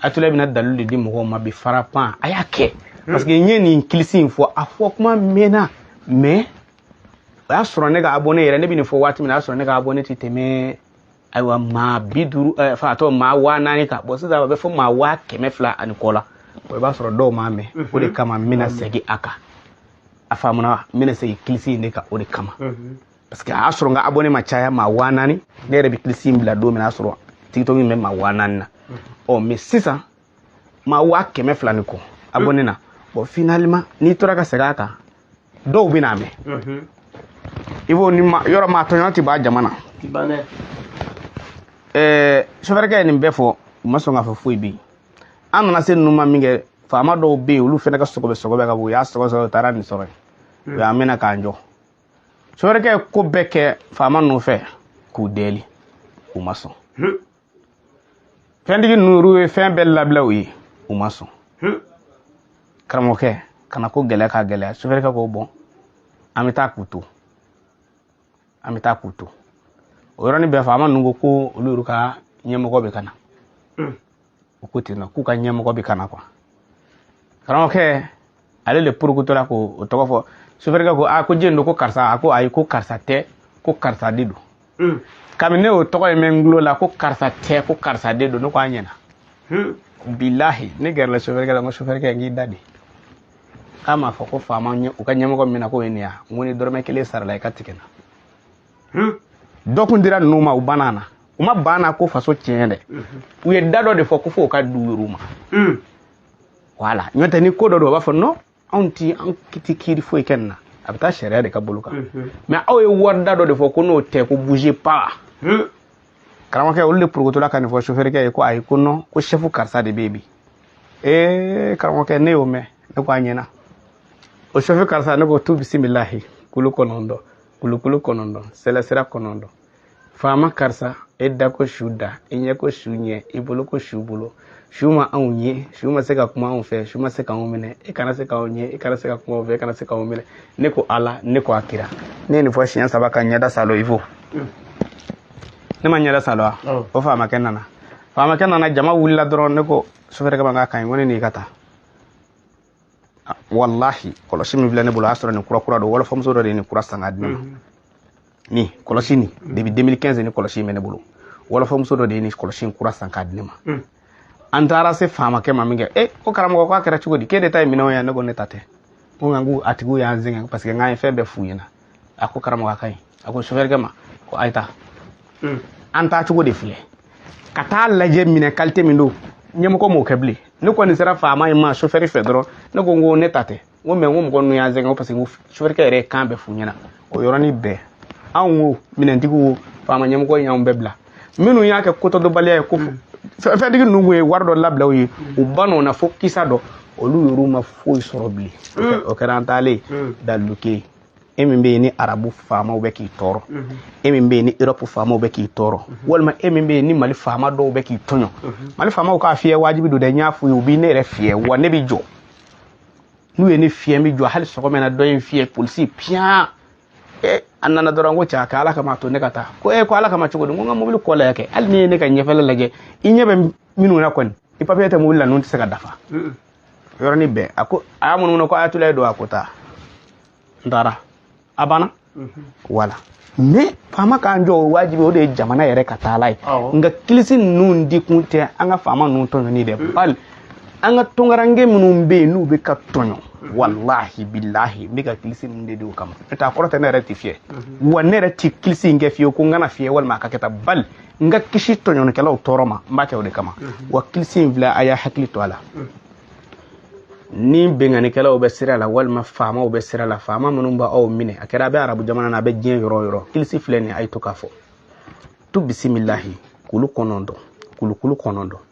atula bɛna dalilu de di mɔgɔw ma bi fara pan a y'a kɛ parce que n ye nin kilisi in fɔ a fɔ kuma mɛnna mais o y'a sɔrɔ ne ka abonné yɛrɛ ne bɛ nin fɔ waati min na o y'a sɔrɔ ne ka abonné tɛ tɛmɛ ayiwa maa bi duuru enfin a tɔ maa waa naani kan bon sisan a bɛ fo maa waa kɛmɛ fila ani kɔ la o i b'a sɔrɔ dɔw m'a mɛn o de kama n bɛna segin a kan a faamuna wa n bɛna segin kilisi in de kan o de kama. parce que a y'a sɔrɔ n ka abonné ma caya maa waa naani ne yɛrɛ bɛ kilisi in bila don min na a sɔrɔ tiktok in bɛ maa waa naani na ɔ mais sisan maa waa kɛmɛ fila ni kɔ abonné na bon finalement n'i tora ka segin a kan dɔw bɛn'a mɛn i b'o ni ma yɔrɔ maa tɔɲɔgɔn tɛ b'a jama na ɛɛ sofɛrikɛ ye nin bɛɛ fɔ u ma sɔn k'a fɔ foyi bɛ yen an nana se ninnu ma min kɛ faama dɔw bɛ yen olu fana ka sɔgɔbɛ sɔgɔbɛ ka bɔ u y'a sɔgɔ sɔgɔ u taara nin sɔrɔ yen u y'an minɛ k'an jɔ sofɛrikɛ ye ko bɛɛ kɛ faama ninnu fɛ k'u dɛli u ma sɔn fɛntigi ninnu ye fɛn bɛɛ labila u ye u ma sɔn karamɔgɔkɛ ka na ko gɛlɛya ka gɛlɛya sofɛrikɛ ko bon an bɛ taa k'u to an bɛ taa k'u to o yɔrɔnin bɛɛ faama ninnu ko olu yɛrɛ ka ɲɛmɔgɔ bɛ ka na u ko ten nɔ k'u ka ɲɛmɔgɔ bɛ ka na quoi karamɔgɔkɛ ale de porokotora k'o tɔgɔ fɔ sofɛrikɛ ko aa ko jɛni don ko karisa a ko ayi ko karisa tɛ ko karisa de don hmm. kabini ne y'o tɔgɔ in mɛn n tulo la ko karisa tɛ ko karisa de don ne ko a ɲɛna hmm. bilahi ne gɛrɛla sofɛrikɛ la n ko sofɛrikɛ n k'i da de k'a m'a fɔ ko faamaw ka ɲɛmɔgɔ min na k'o ye nin ye n ko ni dɔrɔmɛ kelen sarala i ka tigɛ n na hmm? dɔ kun dira ninnu ma u banna na u ma banna ko faso tiɲɛ dɛ mhm. u ye da dɔ de fɔ ko fo k'a d'u yɛrɛ ma hmm. voilà n'o tɛ ni ko dɔ don u b'a fɔ non anw ti an ti kiiri foyi kɛ nin na a bɛ taa sariya de ka bolo kan mhm. mais aw ye wari da dɔ de fɔ ko n'o tɛ ko bouge pas hmm. karamɔgɔkɛ olu de porokotola ka nin fɔ sofɛrikɛ ye ko ayi ko non ko chef karisa de bɛ yen bi ee karamɔgɔkɛ ne y'o mɛn ne ko a ɲɛna o chef karisa ne ko tu bisimilahi kulu kɔnɔntɔn kulukulu kɔnɔntɔn sɛlɛsira kɔnɔntɔn faama karisa e da ko su da e ɲɛ ko su ɲɛ i bolo ko su bolo su ma anw ye su ma se ka kuma anw fɛ su ma se k'anw minɛ e kana se k'anw ye e kana se ka kuma anw fɛ e kana se k'anw minɛ ne ko ala ne ko a kira ne ye nin fɔ siɲɛ saba ka ɲɛda salo i fo ne ma ɲɛda salo wa o faamakɛ nana faamakɛ nana jama wulila dɔrɔn ne ko sofɛrikɛ ma k'a ka ɲi ko ne n'i ka taa walahi kɔlɔsi min filɛ ne bolo o y'a sɔrɔ nin kura kura don wɔlɔfɔmuso dɔ de ye nin kura san k'a di ne ma nin kɔlɔsi nin depuis 2015 ni kɔlɔsi in bɛ ne bolo wɔlɔfɔmuso dɔ de ye nin kɔlɔsi in kura san k'a di ne ma an taara se faamakɛ ma min kɛ e ko karamɔgɔ k'a kɛra cogo di k'e de ta ye minɛnw ye ne ko ne ta tɛ ko nka ko a tigiw y'an sɛgɛn parce que n k'an ye fɛn bɛɛ f'u ɲɛna a ko karamɔgɔ a ka ɲi a ko sofɛrikɛ ma ko a ye taa hmm. an taa cogo de filɛ ka t'a lajɛ minɛn kalite min don ɲɛmɔgɔ m'o kɛ bilen ne kɔni sera faama in ma sofɛri fɛ dɔrɔn ne ko n ko ne ta tɛ n ko mɛ n ko mɔgɔ ninnu y'an sɛgɛn ko parce que sofɛrikɛ yɛrɛ ye kan bɛɛ f'u ɲɛna o yɔrɔnin bɛɛ anw wo minɛntigiw wo faama ɲɛmɔgɔ in y'anw bɛɛ bila minnu y'a kɛ kotɔdɔnbaliya ye ko fɛntigi ninnu ye wari dɔ labila u ye u ban o na fo kisa dɔ olu yɛrɛw ma foyi sɔrɔ bilen o kɛra an taalen daluke e min bɛ yen ni arabu faamaw bɛ k'i tɔɔrɔ e min bɛ yen ni europe faamaw bɛ k'i tɔɔrɔ walima e min bɛ yen ni mali faama dɔw bɛ k'i tɔɲɔ mali faamaw k'a fiyɛ wajibi don dɛ n y'a f'u ye u bɛ ne yɛrɛ fiyɛ wa ne bɛ jɔ n'u ye ne fiyɛ n bɛ jɔ hali sɔgɔma na dɔ ye n fiyɛ polisi piyan eh, a nana dɔrɔn ko cɛ ka ala kama to ne ka taa ko e ko ala kama cogo di ko n ka mobili kɔ lajɛ kɛ hali n'i ye ne ka ɲɛfɛla lajɛ i ɲɛ bɛ minnu na kɔni i papiye tɛ mobili la ninnu tɛ se ka dafa yɔrɔnin bɛɛ a ko a y'a munumunu ko ayatulaye don a ko taa n taara a banna wala mɛ faama k'an jɔ o wajibi o de ye jamana yɛrɛ ka taala ye nka kilisi ninnu di kun tɛ an ka faama ninnu tɔɲɔni dɛ bali an ka tunkaranke minnu bɛ yen n'u bɛ ka tɔɲɔ walahi bilahi n bɛ ka kilisi ninnu de di o kama n'o tɛ a kɔrɔ tɛ ne yɛrɛ tɛ fiyɛ wa ne yɛrɛ tɛ kilisi in kɛ fiyewu ko n kana fiyɛ walima a ka kɛ tan bali n ka kisi tɔɲɔnikɛlaw tɔɔrɔ ma n b'a kɛ o de kama wa kilisi in filɛ a y'a hakili to a la ni binkannikɛlaw bɛ sira la walima faamaw bɛ sira la faama minnu b'aw minɛ a kɛra a bɛ arabu jamana na a bɛ diɲɛ yɔrɔ o yɔrɔ kilisi filɛ nin ye a ye to k'a fɔ tu bisimilahi kulu kɔnɔntɔn kulukulu kɔnɔntɔn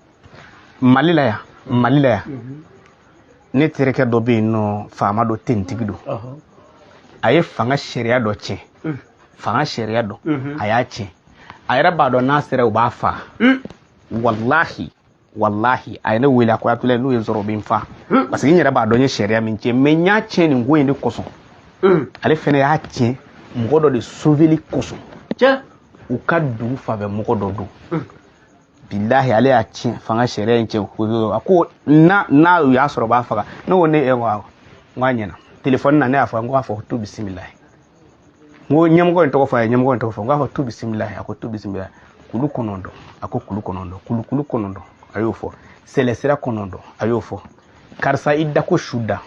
mali la yan mali la yan ne terikɛ dɔ bɛ yen nɔ faama dɔ tentigi don a ye fanga sariya dɔ tiɲɛ mm. fanga sariya dɔ mm-hmm. a y'a tiɲɛ a yɛrɛ b'a dɔn n'a sera u b'a fa mm. walahi walahi a ye ne wele a ko atulaye n'u ye n sɔrɔ u bɛ n fa mm. parce que n yɛrɛ b'a dɔn n ye sariya min tiɲɛ mɛ n y'a tiɲɛ nin ko in de kosɔn ale fɛnɛ y'a tiɲɛ mɔgɔ dɔ de soveli kosɔn u ka dugu fan fɛ mɔgɔ dɔ don bilahi ale y'a tiɲɛ fanga sariya in tiɲɛ a ko n'u y'a sɔrɔ u b'a faga ne ko ne e ko awɔ n k'a ɲɛna telefɔni na ne y'a fɔ n k'a fɔ tu bisimila n ko ɲɛmɔgɔ in tɔgɔ fɔ a ye ɲɛmɔgɔ in tɔgɔ fɔ n k'a fɔ tu bisimila a ko tu bisimila kulu kɔnɔntɔn a ko kulu kɔnɔntɔn kulu kulu kɔnɔntɔn a y'o fɔ sɛlɛsira kɔnɔntɔn a y'o fɔ karisa i da ko su da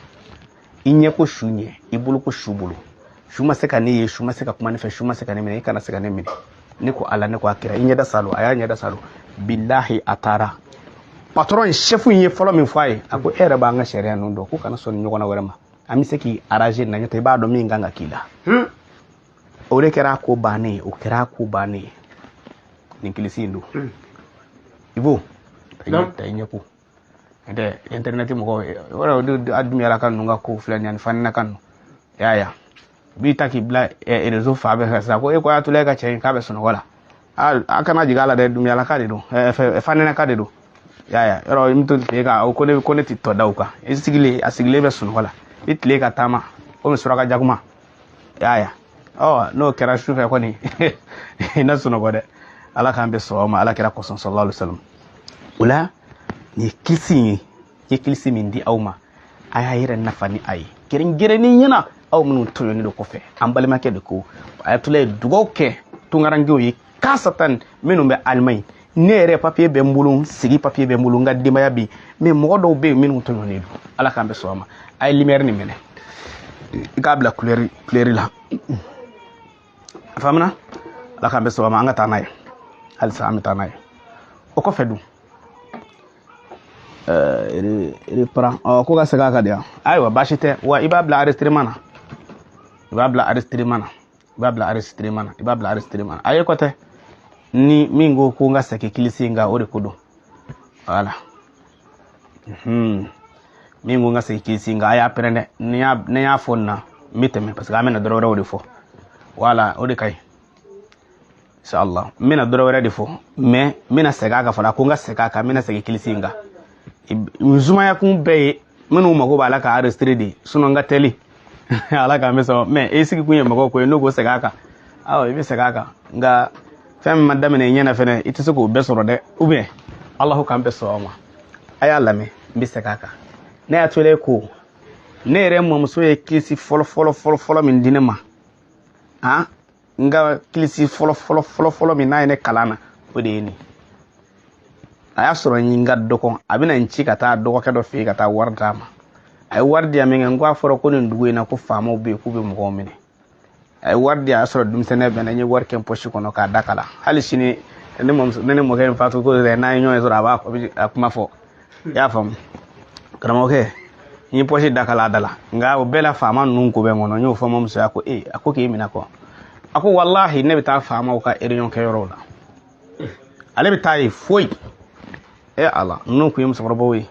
i ɲɛ ko su ɲɛ i bolo ko su bolo su ma se ka ne ye su ma se ka kuma ne fɛ su ma se ka ne minɛ i kana se ka ne minɛ ne ko ala ne ko a kira i ɲɛda saalo a y'a ɲɛda saalo bilahi a taara patɔrɔn sɛfu in ye fɔlɔ min fɔ a ye a ko e yɛrɛ b'an ka sariya ninnu dɔn ko kana sɔn nin ɲɔgɔnna wɛrɛ ma an bɛ se k'i aranze na n'o tɛ i b'a dɔn min kan ka k'i la hmm. o de kɛra a ko bannen ye o kɛra a ko bannen ye nin kilisi in don hmm. i b'o ta i ɲɛ ko internet mɔgɔw ye yɔrɔ a dumuyalaka ninnu ka kow filɛ nin ye faninaka ninnu i y'a ye a b'i ta k'i bila rezo fan bɛɛ fɛ sisan ko e ko ayatulaye ka cɛ in k'a bɛ sunɔgɔ la a kana jigin a la dɛ dumuyalaka de don faninaka de don i y'a ye yɔrɔ i bɛ to tile kan ko ne ko ne tɛ tɔ da o kan i sigilen a sigilen bɛ sunɔgɔ la i tile ka taama komi suraka jakuma yaya ɔ n'o kɛra sufɛ kɔni i na sunɔgɔ dɛ ala k'an bɛɛ sɔn o ma ala kira kɔsɔn sallallahu alayhi salam o la nin ye kilisi in ye n ye kilisi min di aw ma a y'a yɛrɛ nafa ni a ye gɛrɛngɛrɛnni ɲɛna aw minnu tɔɲɔnen don kɔfɛ an balimakɛ de ko ayatulaye dugaw kɛ tunkarankew ye kasatan minnu bɛ alimaɲi ne yɛrɛ papiye bɛ n bolo n sigi papiye bɛ n bolo n ka denbaya bɛ yen mɛ mɔgɔ dɔw bɛ yen minnu tɔɲɔnen don ala k'an bɛɛ sɔn a ma a ye limɛri nin minɛ i k'a bila kulɛri kulɛri la a faamuna ala k'an bɛɛ sɔn a ma an ka taa n'a ye halisa an bɛ taa n'a ye o kɔfɛ dun reparan ɔ ko ka segin a kan de yan ayiwa baasi tɛ wa i b'a bila arɛsitireman na i b'a bila arɛsitireman na i b'a bila aresitirema na i b'a bila aresitirema na a ye kɔ tɛ ni min ko ko n ka segin kilisi in kan o de ko don wala min ko n ka segin kilisi in kan a y'a pɛrɛn dɛ ni n y'a fɔ nin na n bɛ tɛmɛ parce que an bɛna dɔrɔ wɛrɛw de fɔ wala o de ka ɲi inshallah n bɛna dɔrɔ wɛrɛ de fɔ mais n bɛna segin a kan fana ko n ka segin a kan n bɛna segin kilisi in kan n sumaya kun bɛɛ ye minnu mago b'a la ka arestire de sinɔn n ka teli ala k'an bɛɛ sɔn mɛ e sigi kun ye mɔgɔw ko ye n'u ko segin a kan awɔ i bɛ segin a kan nka fɛn min ma daminɛ i ɲɛna fɛnɛ i tɛ se k'o bɛɛ sɔrɔ dɛ ou bien alahu k'an bɛɛ sɔn o ma a y'a lamɛn n bɛ segin a kan ne ayatulaye ko ne yɛrɛ mɔmuso ye kilisi fɔlɔ fɔlɔ fɔlɔ fɔlɔ min di ne ma han n ka kilisi fɔlɔ fɔlɔ fɔlɔ fɔlɔ min n'a ye ne kalan na o de ye nin a y'a sɔrɔ n ka dɔgɔn a bɛna n ci ka taa dɔgɔkɛ dɔ fɛ yen ka taa wari d'a ma a ye wari di yan min kɛ n ko a fɔra ko nin dugu in na ko faamaw bɛ yen k'u bɛ mɔgɔw minɛ a ye wari di a y'a sɔrɔ denmisɛnninya bɛ n na n ye wari kɛ n pɔsi kɔnɔ k'a da kala hali sini ne mɔmuso ne ni mɔkɛ in fatu ko n'an ye ɲɔgɔn ye dɔrɔn a b'a kuma fɔ i y'a faamu karamɔgɔkɛ n ye pɔsi da kala da la nka o bɛɛ la faama ninnu ko bɛ n kɔnɔ n y'o fɔ n mamuso ye a ko ee a ko k'e minɛ kɔ a ko walahi ne bɛ taa faamaw ka eriyɔn kɛ yɔrɔw la ale bɛ taa yen foyi e ala ninnu kun ye musokɔrɔbaw ye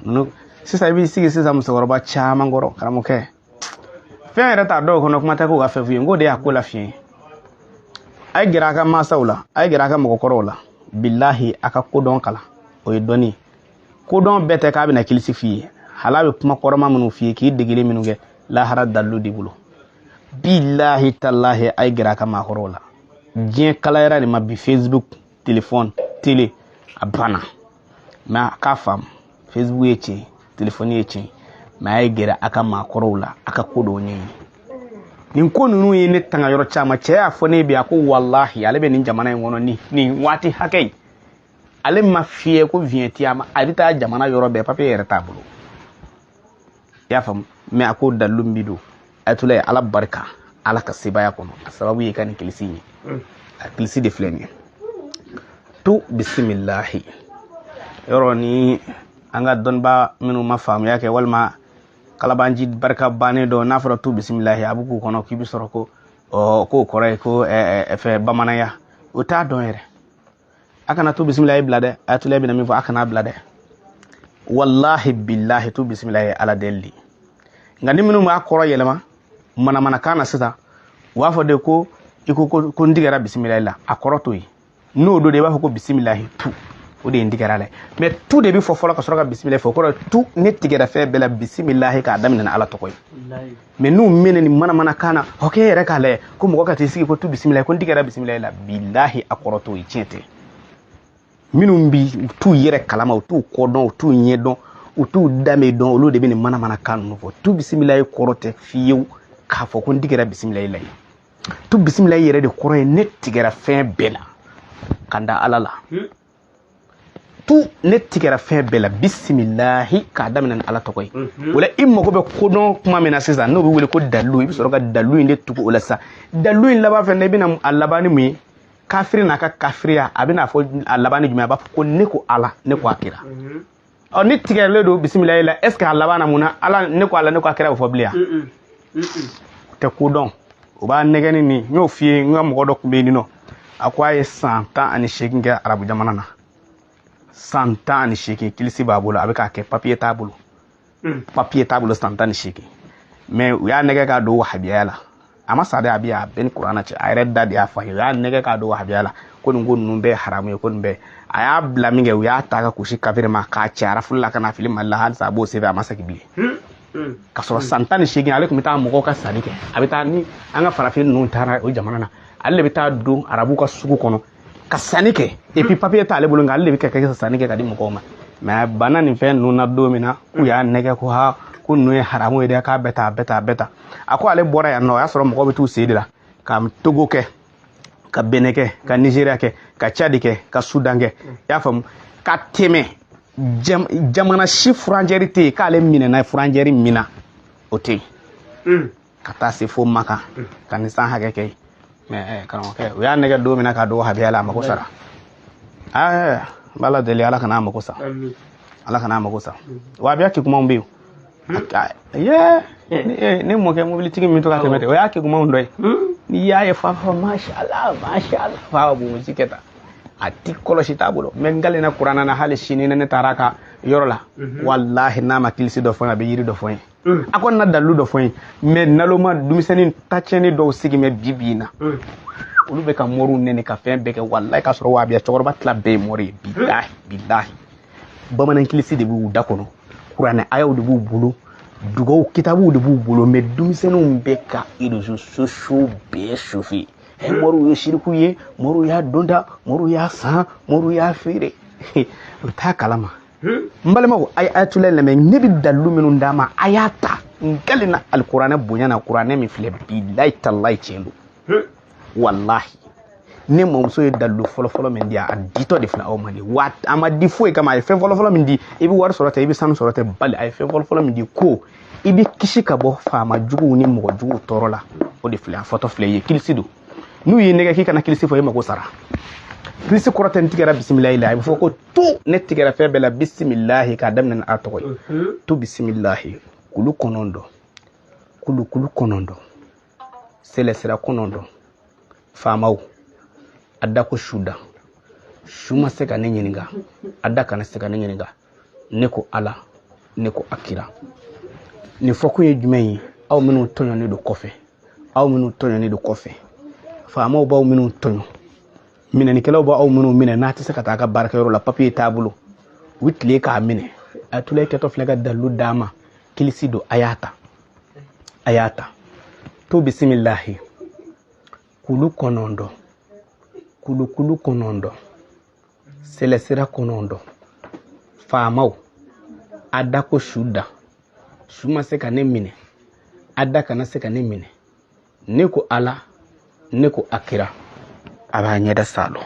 ninnu sisan i b'i sigi sisan musokɔrɔba caman kɔrɔ karamɔgɔkɛ fɛn yɛrɛ t'a dɔw kɔnɔ kuma tɛ k'u ka fɛn f'u ye n k'o de y'a ko la fiɲɛ a ye gɛrɛ a ka mansaw la a ye gɛrɛ a ka mɔgɔkɔrɔw la bilahi a ka kodɔn kalan o ye dɔnni kodɔn bɛɛ tɛ k'a bɛna kilisi f'i ye hali a bɛ kuma kɔrɔma minnu f'i ye k'i degeli minnu kɛ lahara dalilu de bolo bilahi talahi a ye gɛrɛ a ka maakɔrɔw la diɲɛ kalayara de ma bi facebook telefɔni tele a banna mɛ a k'a faamu facebook ye tiɲɛ telefɔni ye tiɲɛ mɛ a ye gɛrɛ a ka maakɔrɔw la a ka ko dɔw ɲɛɲini nin ko ninnu ye ne tanga yɔrɔ caman cɛ y'a fɔ ne bi a ko walahi ale bɛ nin jamana in kɔnɔ ni nin waati hakɛ in ale ma fiyɛ ko viɲɛti a ma a bɛ taa jamana yɔrɔ bɛɛ papiye yɛrɛ t'a bolo i y'a faamu mɛ a ko dalilu min bi don ayatula ye ala barika ala ka sebaya kɔnɔ a sababu ye ka nin kilisi ye mm. a kilisi de filɛ nin ye tu bisimilahi yɔrɔ nin an ka dɔnnibaa minnu ma faamuya kɛ walima kalabaanci barika bannen dɔ n'a fɔra tu bisimilahi a bɛ k'u kɔnɔ k'i bɛ sɔrɔ ko k'o kɔrɔ ye ko fɛn bamananya o t'a dɔn yɛrɛ a kana tu bisimilayi bila dɛ ayatula bɛna min fɔ a kana bila dɛ walahi bilahi tu bisimilayi ala deli nka ni minnu b'a kɔrɔ yɛlɛma manamanakan na sisan u b'a fɔ de ko i ko ko n tigɛra bisimilayi la a kɔrɔ t'o ye n'o don de i b'a fɔ ko bisimilayi tu o de ye n tigɛra a la mɛ tu de bɛ fɔ fɔlɔ ka sɔrɔ ka bisimilayi fɔ o kɔrɔ tu ne tigɛra fɛn bɛɛ la bisimilayi k'a daminɛ ni ala tɔgɔ ye mɛ n'u minɛnen manamanakan na oke yɛrɛ k'a lajɛ ko mɔgɔ ka t'i sigi ko tu bisimila ko n tigɛra bisimila la bilahi a kɔrɔ t'o ye tiɲɛ tɛ minnu bi u t'u yɛrɛ kalama u t'u kɔdɔn u t'u ɲɛdɔn u t'u danbe dɔn olu de bɛ nin manamanakan ninnu fɔ tu bisimilayi kɔrɔ tɛ fiyewu k'a fɔ ko n tigɛra bisimila la ye tu bisimila yɛrɛ de kɔrɔ ye ne tigɛra fɛn bɛɛ la ka da ala la tu ne tigɛra fɛn bɛɛ la bisimilahi k'a daminɛ ni ala tɔgɔ ye o la i mago bɛ kodɔn kuma min na sisan n'o bɛ wele ko dalilu i bɛ sɔrɔ ka dalilu in de tugu o la sisan dalilu in laban fɛn na i bɛna a laban ni mun ye kafiri n'a ka kafiriya a bɛna fɔ a laban ni jumɛn a b'a fɔ ko ne ko ala ne ko a kira ɔ n'i tigɛlen don bisimilayi la est ce que a laban na mun na ala ne ko ala ne ko a kira bɛ fɔ bilen yan tɛ ko dɔn o b'a nɛgɛni nin n y'o f'i ye n ka mɔgɔ dɔ tun bɛ yen nɔ a ko a ye san tan ani seegin kɛ arabu jamana na san tan ani seegin kilisi b'a bolo a bɛ k'a kɛ papiye t'a bolo hmm. papiye t'a bolo san tan ni seegin mɛ u y'a nɛgɛn k'a don wahabiyaya la a ma sa dɛ a bɛ yan ne ni kuranɛ cɛ a yɛrɛ da de y'a fɔ n ye u y'a nɛgɛn k'a don wahabiyaya la ko nin ko ninnu bɛɛ haramu ye ko nin bɛɛ a y'a bila min kɛ u y'a ta ka kusi kafiri ma k'a cɛ refule la ka n'a fili mali la halisa a b'o sɛbɛn a ma segin bilen hmm. Mm. ka sɔrɔ mm. san tan ni seegin ale tun bɛ taa mɔgɔw ka sanni kɛ a bɛ taa ni an ka farafin ninnu taara o jamana na ale de bɛ taa don arabu ka sugu kɔnɔ ka sanni kɛ et puis papier t'ale bolo nka ale de bɛ ka kɛ sanni kɛ ka di mɔgɔw ma mais bana nin fɛn ninnu na don min na k'u y'a nɛgɛn ko ha ko ninnu ye haramu ye dɛ k'a bɛɛ ta a bɛɛ ta a bɛɛ ta a ko ale bɔra yan nɔ o y'a sɔrɔ mɔgɔw bɛ t'u sen de la ka togo kɛ ka benɛn kɛ ka nizeriya kɛ ka cadi kɛ ka sudan kɛ i y'a faamu ka tɛmɛ jamana si frontière tɛ yen k'ale minɛna frontière min na o tɛ yen ka taa se fo makan ka nin san hakɛ kɛ mɛ eh, karamɔgɔkɛ u y'a nɛgɛ don min na ka don wahabiya la a mako sara eh, n bɛ ala deli ala kana a mako sa ala kana a mako sa wabiya kɛ kumaw bɛ yen ye eh. ne mɔkɛ mobilitigi min to ka tɛmɛ o y'a kɛ kumaw dɔ ye hmm? n'i y'a ye f'a fɔ mashala mashala f'a bonsi kɛ tan a ti kɔlɔsi t'a bolo mɛ n kalenna kuranɛ na hali sini ne taara a ka yɔrɔ la mhm. walahi n'a ma kilisi dɔ fɔ n ye a bɛ yiri dɔ fɔ n ye Mm. a kɔni na dalilu dɔ fɔ n ye mɛ naloma denmisɛnnin tacɛni dɔw sigilen bɛ bi bi in na mm. olu bɛ ka mɔriw nɛni ka fɛn bɛɛ kɛ walayi k'a sɔrɔ wabiya cɛkɔrɔba tila bɛɛ ye mɔri ye mm. bilahi bilahi bamanankilisi de b'u da kɔnɔ kuranɛ ayaw de b'u bolo dugaw kitabuw de b'u bolo mɛ denmisɛnninw bɛ ka rezo sosiyow bɛɛ sofe ɛ mɔriw ye siriku ye mɔriw y'a donda mɔriw y'a san mɔriw y'a feere u t'a kalama n balimaw a ye atulayi lamɛn ne bɛ dalilu minnu d'a ma a y'a ta n kalenna alikuranɛ bonya na kuranɛ min filɛ bilayi talayi tiɲɛ don walahi ne mamuso ye dalilu fɔlɔfɔlɔ min di a ditɔ de filɛ aw ma dɛ wa a ma di foyi kama a ye fɛn fɔlɔfɔlɔ min di i bɛ wari sɔrɔ tɛ i bɛ sanu sɔrɔ tɛ bali a ye fɛn fɔlɔfɔlɔ min di ko i bɛ kisi ka bɔ faama juguw ni mɔgɔ juguw tɔɔrɔ la o de filɛ a fɔtɔ filɛ i ye kilisi don n'u y'i nɛgɛ k'i kana kilisi fɔ e mako sara kilisi kɔrɔ tɛ n tigɛra bisimilahi la a bɛ fɔ ko tu ne tigɛra fɛn bɛɛ la bisimilahi k'a daminɛ ni a tɔgɔ ye mhm. tu bisimilahi kulu kɔnɔntɔn kulukulu kɔnɔntɔn sɛlɛsira kɔnɔntɔn faamaw a da ko su da su ma se ka ne ɲininka a da kana se ka ne ɲininka ne ko ala ne ko a kira nin fɔkun ye jumɛn ye aw minnu tɔɲɔnen don kɔfɛ aw minnu tɔɲɔnen don kɔfɛ faamaw b'aw minnu tɔɲɔ minɛnikɛlaw b'aw minnu minɛ n'a tɛ se ka taa a ka baarakɛyɔrɔ la papiye t'a bolo u tile k'a minɛ atulayi kɛtɔ filɛ ka dalilu d'a ma kilisi don a y'a ta a y'a ta tu bisimilahi kulu kɔnɔntɔn kulukulu kɔnɔntɔn sɛlɛsira kɔnɔntɔn faamaw a da ko su da su ma se ka ne minɛ a da kana se ka ne minɛ ne ko ala ne ko a kira a b'a ɲɛda saalo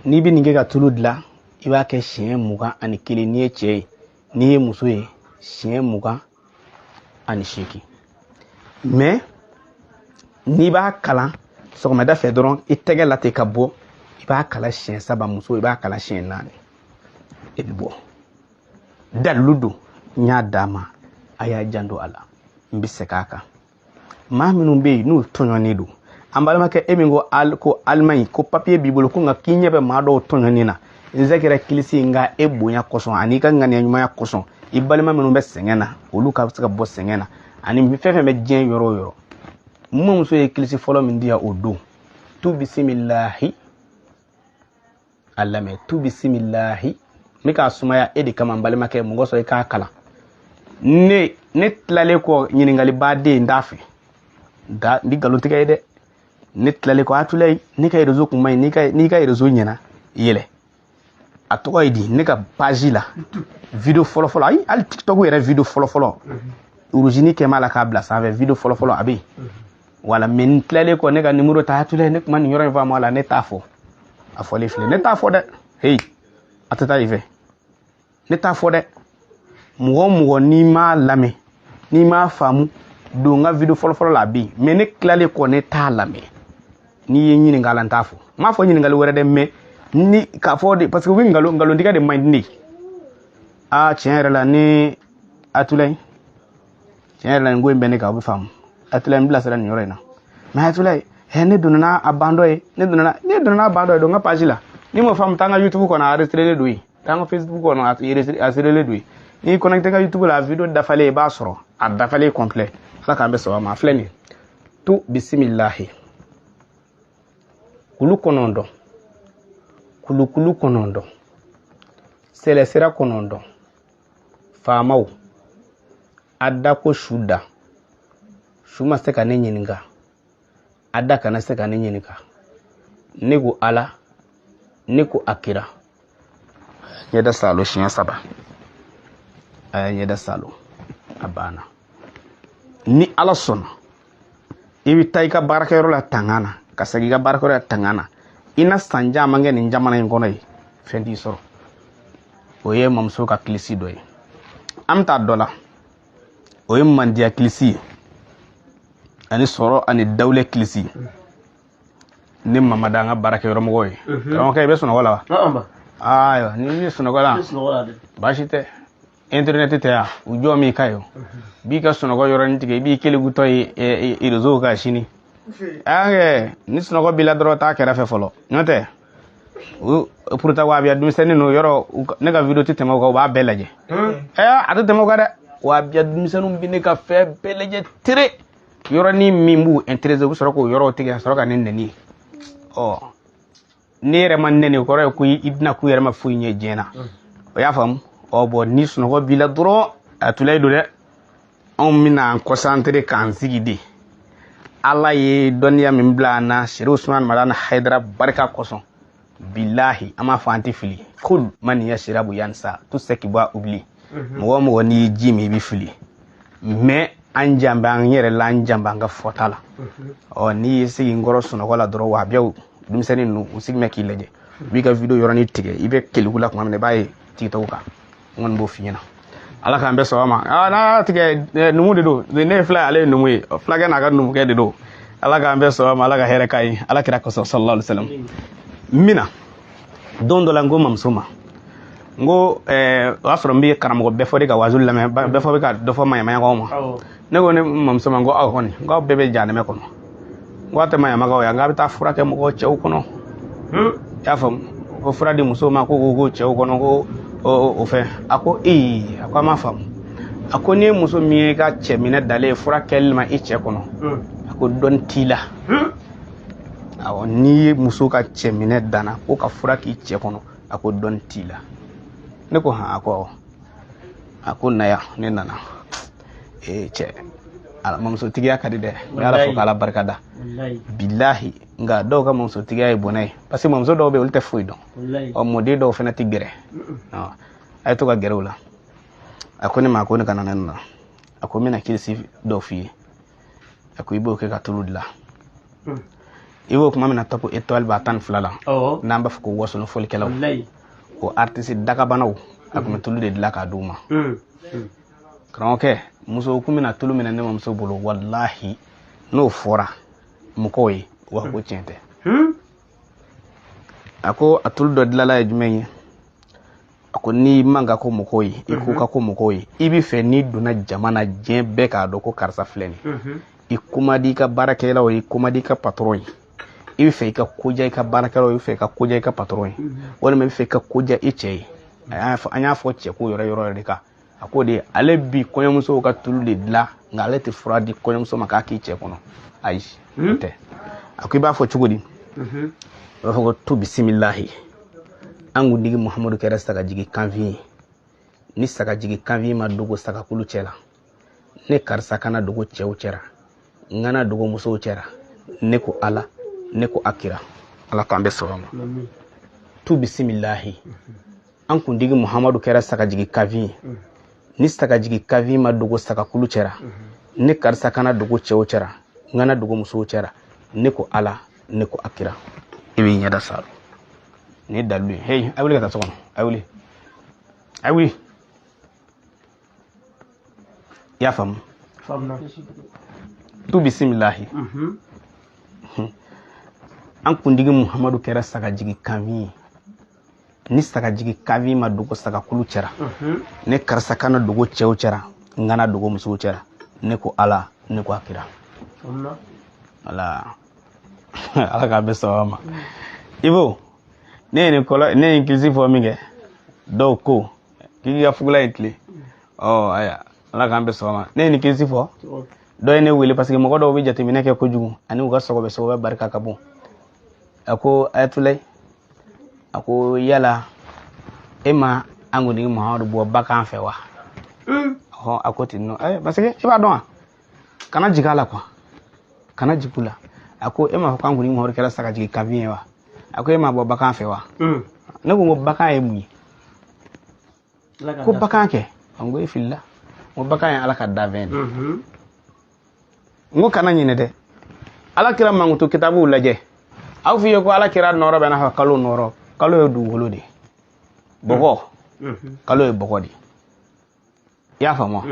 n'i bɛ nin kɛ ka tulu dilan i b'a kɛ siɲɛ mugan ani kelen n'i ye cɛ ye n'i ye muso ye siɲɛ mugan ani seegin mɛ n'i b'a kalan sɔgɔmada fɛ dɔrɔn i tɛgɛ la ten ka bɔ i b'a kalan siɲɛ saba muso i b'a kalan siɲɛ naani i bɛ bɔ dalilu don n y'a d'a ma a y'a janto a la n bɛ segin a kan maa minnu bɛ yen n'u tɔɲɔnen don an balimakɛ e min ko al ko alimaɲi ko papiye b'i bolo ko nka k'i ɲɛ bɛ maa dɔw tɔɲɔni na n zɛgɛrɛ kilisi nka e bonya kosɔn ani i ka ŋaniya ɲumanya kosɔn i balima minnu bɛ sɛgɛn na olu ka se ka bɔ sɛgɛn na ani fɛn fɛn bɛ diɲɛ yɔrɔ o yɔrɔ n mamuso ye kilisi fɔlɔ min di yan o don tu bisimilahi a lamɛn tu bisimilahi n bɛ k'a sumaya e de kama n balimakɛ mun kosɔn i k'a kalan ne ne tilalen kɔ ɲininkali baden n t'a fɛ dɛ n tɛ nkalon tigɛ i ye dɛ ne tilalen kɔ abdulayi ne ka rezo kun man ɲi n'i ka rezo ɲɛna yɛlɛ a tɔgɔ ye di ne ka page la video fɔlɔfɔlɔ ayi hali tiktok yɛrɛ video fɔlɔfɔlɔ uruzini kɛ b'a la k'a bila sanfɛ video fɔlɔfɔlɔ a bɛ yen voilà mais n tilalen kɔ ne ka nimoro ta abdulayi ne ma nin yɔrɔ in faamu a la ne t'a fɔ a fɔlen filɛ ne t'a fɔ dɛ heyi a tɛ taa i fɛ ne t'a fɔ dɛ mɔgɔ o mɔgɔ n'i m'a lamɛn n'i m'a faamu don n ka video fɔlɔfɔlɔ la a bɛ yen mais ne tilalen kɔ ne t'a lamɛn n'i ye ɲininkali la n t'a fɔ n m'a fɔ ɲininkali wɛrɛ dɛ mais ni k'a fɔ de parce que u bɛ nkalon nkalontigɛ de man di ne ye aa tiɲɛ yɛrɛ la ne abdulayi tiɲɛ yɛrɛ la nin ko in bɛ ne kan o bɛ faamu abdulayi n bilasira nin yɔrɔ in na mais abdulayi ɛ ne donna n'a a bandɔ ye ne donna ne donna n'a bandɔ ye don n ka page la n'i m'o faamu taa n ka youtube kɔnɔ a enregistrélen don yen taa n ka facebook kɔnɔ a enregistrélen don yen n'i connecté ka youtube la a video dafalen i b'a sɔrɔ a dafalen complet ala k'an bɛɛ sɔn a ma a filɛ nin ye tu bisimilahi kulu kɔnɔntɔn kulu kɔnɔntɔn sɛlɛsira kɔnɔntɔn faamaw a da ko su da su ma se ka ne ɲininka a da kana se ka ne ɲininka ne ko ala ne ko a kira a ye ɲɛda saalo siɲɛ saba a ye ɲɛda saalo a banna ni ala sɔnna i bɛ taa i ka baarakɛyɔrɔ la tanga na ka segin i ka baarakɛyɔrɔ la tanga na i na san caman kɛ nin jamana in kɔnɔ yen fɛn t'i sɔrɔ o ye mamuso ka kilisi dɔ ye an bɛ taa dɔ la o ye mandiya kilisi ye ani sɔrɔ ani dawulɛ kilisi ne mamada an ka baarakɛyɔrɔmɔgɔ ye karamɔgɔkɛ i bɛ sunɔgɔ la wa ayiwa n'i sunɔgɔla baasi tɛ internet tɛ yan u jɔ min ka ye b'i ka sunɔgɔ yɔrɔnin tigɛ i b'i kelegutɔ ye réseau kan sini ɛɛ ni sunɔgɔ b'i la dɔrɔn taa kɛrɛfɛ fɔlɔ n'o tɛ pourtant wahabiya denmisɛnnin n'o yɔrɔ ne ka video tɛ tɛmɛ u kan u b'a bɛɛ lajɛ ɛɛ a tɛ tɛmɛ u kan dɛ wahabiya denmisɛnninw bɛ ne ka fɛn bɛɛ lajɛ tere yɔrɔnin min b'u intéresser u bɛ sɔrɔ k'o yɔrɔw tigɛ ka sɔrɔ ka ne nɛni ɔ ne yɛrɛ ma nɛni kɔrɔ ye ko i bɛna k'u yɛrɛ ma foyi ɲɛ diɲɛ na o y'a faamu ɔ bɔn ni sunɔgɔ b'i la dɔrɔn a tulayi don dɛ anw bɛna an concentrer k'an sigi de ala ye dɔnniya min bila an na serifu usman madani hayidara barika kosɔn bilahi an m'a fɔ an tɛ fili kul man yasirabu yansa tout ce qui boit oublie mɔgɔ mɔgɔ n'i ye ji min i bɛ fili mais an jan bɛ an yɛrɛ la an jan bɛ an ka fɔta la ɔ n'i y'i sigi n kɔrɔ sunɔgɔ la dɔrɔn wa bɛɛ denmisɛnnin ninnu u sigi bɛ k'i lajɛ u b'i ka video yɔrɔnin tigɛ i bɛ keleku la tuma min na i b'a ye TikTok kan n kɔni b'o f'i ɲɛna ala k'an bɛɛ sɔgɔma n'a y'a tigɛ numu de don ne fila ale ye numu ye fulakɛ n'a ka numukɛ de don ala k'an bɛɛ sɔgɔma ala ka hɛrɛ k'a ye ala kira kosɔn sallallahu alaihi wasallam amiina don dɔ la n ko mamuso ma n ko eh, o y'a sɔrɔ n bɛ karamɔgɔ bɛfɔ de ka wazu lamɛn bɛfɔ bɛ ka dɔ fɔ maɲamagaw ma ne ko ne mamuso ma n ko aw kɔni n ko aw bɛɛ bɛ janɛmɛ kɔnɔ n ko aw tɛ maɲamagaw ye n k'aw bɛ taa fura kɛ mɔgɔw cɛw kɔnɔ hmm? i y'a faamu ko fura di musow ma ko ko ko cɛw kɔnɔ ko o fɛn a ko ee a ko an m'a faamu a ko n'i ye muso min ye ka cɛ minɛ dannen ye fura kɛli ma i cɛ kɔnɔ hmm. a ko dɔnni t'i la hmm? awɔ n'i ye muso ka cɛ minɛ danna ko ka fura k'i cɛ kɔnɔ a ko dɔn t'i la ne ko han a ko awɔ a ko na yan ne nana ee cɛ ala mamusotigiya ka di dɛ n bɛ ala fo k'ala barika da bilahi nka dɔw ka mamusotigiya ye bɔnɛ ye parce que mamuso dɔw bɛ yen olu tɛ foyi dɔn ɔ mɔden dɔw fana tɛ gɛrɛ a ye to ka gɛrɛ u la a ko ne ma ko ne ka na ne nana a ko n bɛna kilisi dɔ f'i ye a ko i b'o kɛ ka tulu dilan hmm. i b'o kuma min na top étoile b'a tan ni fila la n'an b'a fɔ ko wasolon folikɛlaw o artiste dagabanaw a tun bɛ tulu de dilan k'a d'u ma hmm. Hmm. karamɔgɔkɛ muso tun bɛ na tulu minɛ ne mamuso bolo walahi n'o fɔra mɔgɔw ye u b'a fɔ ko tiɲɛ tɛ a ko a tulu dɔ dilala ye jumɛn ye a ko n'i man ka go mɔgɔw ye i ko ka go mɔgɔw ye i bɛ fɛ n'i donna jama na diɲɛ bɛɛ k'a dɔn ko karisa filɛ nin i ko man di i ka baarakɛlaw ye i ko man di i ka patɔrɔn ye i bɛ fɛ i ka ko diya i ka baarakɛlaw ye i bɛ fɛ i ka ko diya i ka patɔrɔn ye walima i bɛ fɛ i ka ko diya i cɛ ye an y'a fɔ cɛ ko yɔrɔ yɔrɔ de kan a ko de ale bi kɔɲɔmusow ka tulu de dilan nka ale tɛ fura di kɔɲɔmuso ma k'a k'i cɛ kɔnɔ ayi o hmm? tɛ a ko i b'a fɔ cogo di mhm. i b'a fɔ ko tu bisimilahi an kuntigi muhamadu kɛra sagajigi kanfin ye ni sagajigi kanfin ma dogo sagakulu cɛ la ne karisa kana dogo cɛw cɛra n kana dogo musow cɛra ne ko ala ne ko a kira ala k'an bɛ sɔrɔ ma tu bisimilahi mhm. an kuntigi muhamadu kɛra sagajigi kanfin ye mm. ni sagajigi kanfin ma dogo sagakulu cɛra mm-hmm. ne karisa kana dogo cɛw cɛra n kana dogo musow cɛra ne ko ala ne ko a kira i b'i ɲɛda saro nin ye dalilu ye heyi a wuli ka taa so kɔnɔ a wuli a wuli i y'a faamu tu bisimilahi mm-hmm. an kuntigi muhamadu kɛra sagajigi kanfin ye ni sagajigi kanfin ma dogo sagakulu cɛra mhm. ne karisa kana dogo cɛw cɛra n kana dogo musow cɛra ne ko ala ne ko a kira ala ala k'a bɛn sɔrɔ ma mm. ibo ne ye nin kɔlɔ ne ye kilisi fɔ min kɛ dɔw ko k'i k'i ka fugula in tilen mm. ɔ aya ala k'an bɛn sɔrɔ ma ne ye nin kilisi fɔ dɔ ye ne wele parce que mɔgɔ dɔw bɛ jateminɛ kɛ kojugu ani u ka sɔgɔbɛ sɔgɔbɛ barika ka bon a ko ayatulai a ko yala e ma an kuntigi muhammadu bɔ bagan fɛ wa hmm. a ko ten nɔ eh, parce que i b'a dɔn wa kana jigin a la quoi kana jigin u la a ko e m'a fɔ k'an kuntigi muhammadu kɛra sagajigi kanfin ye wa a ko e m'a bɔ bagan fɛ wa hmm. ne ko n ko bagan ye mun ye ko bagan kɛ n ko e filila n ko bagan ye ala ka danfɛn de mhm. n ko kana ɲinɛ dɛ ala kira mankutu kitabuw lajɛ aw f'i ye ko ala kira nɔrɔ bɛ n'a fɔ kalo nɔrɔ kalo ye dugukolo de bɔgɔ mhm. kalo ye bɔgɔ de i y'a faamu wa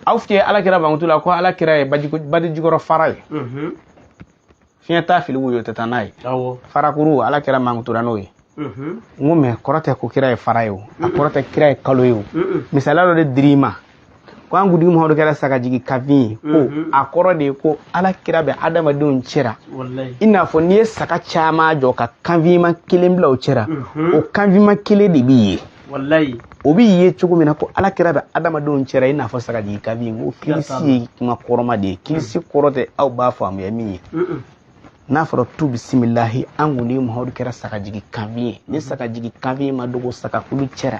aw f'i ye ala kira mankutu la ko ala kira ye baji jukɔrɔ fara ye mhm. fiɲɛ t'a fili woyo tɛ taa n'a ye farakuru ala kira mankutura n'o ye mhm. n ko mais kɔrɔ tɛ ko kira ye fara ye o a mhm. kɔrɔ tɛ kira ye kalo ye o misaliya dɔ de dir'i ma ko an kuntigi muhamadu kɛra sagajigi kanfin ye ko a kɔrɔ de ye ko ala kira bɛ adamadenw cɛra i n'a fɔ n'i ye saga caman jɔ ka kanfinma kelen bila o cɛra o kanfinma kelen de bi ye walayi o bi ye cogo min na ko ala kira bɛ adamadenw cɛra i n'a fɔ sagajigi kanfin ko kilisi ye kuma kɔrɔma de ye kilisi kɔrɔ tɛ aw b'a faamuya min ye n'a fɔra tu bisimilahi an kuntigi muhamadu kɛra sagajigi kanfin ye ni sagajigi kanfin ma dogo sagakulu cɛra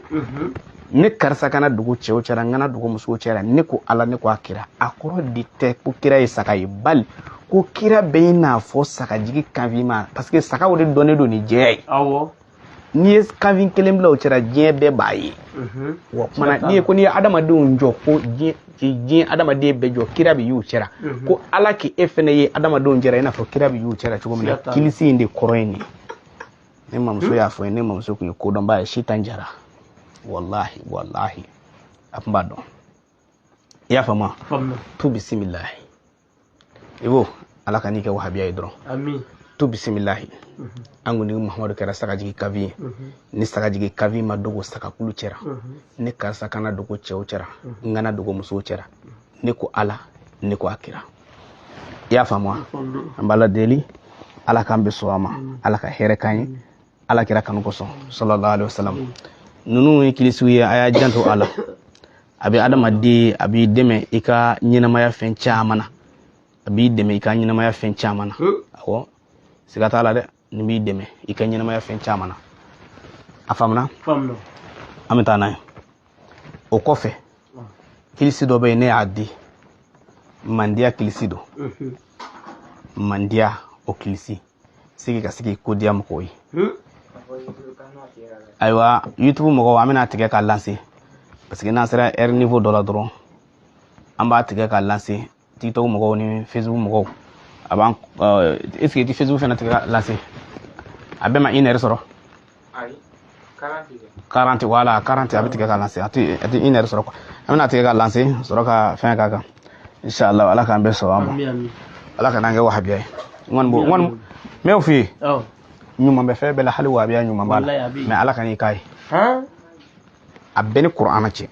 ne karisa kana dogo cɛw cɛra n kana dogo musow cɛra ne ko ala ne ko a kira a kɔrɔ de tɛ ko kira ye saga ye bali ko kira bɛ i n'a fɔ sagajigi kanfin ma parce que sagaw de dɔnnen don ni jɛya ye n'i ye kanfin kelen bila o cɛra diɲɛ bɛɛ b'a ye mhm. wa kumana n'i ye ko n'i ye adamadenw jɔ ko diɲɛ adamaden bɛɛ jɔ kira bi y'u cɛra mhm. ko ala k'e fɛnɛ ye adamadenw cɛra i n'a fɔ kira bi y'u cɛra cogo min na kilisi in de kɔrɔ ye nin ne mamuso hmm? y'a fɔ n ye ne mamuso tun ye kodɔnba ye sitan jara walahi walahi a tun b'a dɔn i y'a faamu tu bisimilahi i b'o ala kan'i kɛ wahabiya ye dɔrɔn amin tu bisimilahi an kuntigi mahamadu kɛra sagajigi kanfin ye ni sagajigi kanfin ma dogo sagakulu cɛra ne karisa kana dogo cɛw cɛra n kana dogo musow cɛra ne ko ala ne ko a kira i y'a faamu wa an b'ala deli ala k'an bɛɛ sɔn a ma ala ka hɛrɛ k'an ye ala kira kanu kosɔn sallallahu alaihi wasallam ninnu ye kilisiw ye a y'a janto a la a bɛ adamaden a b'i dɛmɛ i ka ɲɛnamaya fɛn caman na a b'i dɛmɛ i ka ɲɛnamaya fɛn caman na awɔ siga t'a la dɛ nin b'i dɛmɛ i ka ɲɛnamaya fɛn caman na a faamuna an bɛ taa n'a ye o kɔfɛ kilisi dɔ bɛ yen ne y'a di mandiya kilisi don mandiya o kilisi sigi ka sigi ko diya mɔgɔw ye hmm? ayiwa youtube mɔgɔw an bɛn'a tigɛ ka lancer parce que n'an sera heure niveau dɔ la dɔrɔn an b'a tigɛ ka lancer tiktok mɔgɔw ni facebook mɔgɔw a b'an est ce que i tɛ facebook fana tigɛ ka lancer a bɛɛ ma une heure sɔrɔ quarante voilà quarante a bɛ tigɛ ka lancer a tɛ a tɛ une heure sɔrɔ quoi an bɛn'a tigɛ ka lancer sɔrɔ ka fɛn k'a kan inshallah ala k'an bɛɛ sɔn a ma ala kana an kɛ wahabiya ye n kɔni b'o n kɔni n b'o f'i ye ɲuman bɛ fɛn bɛɛ la hali wahabiya ɲuman b'a la mais ala kan'i k'a ye a bɛɛ ni kuranɛ cɛ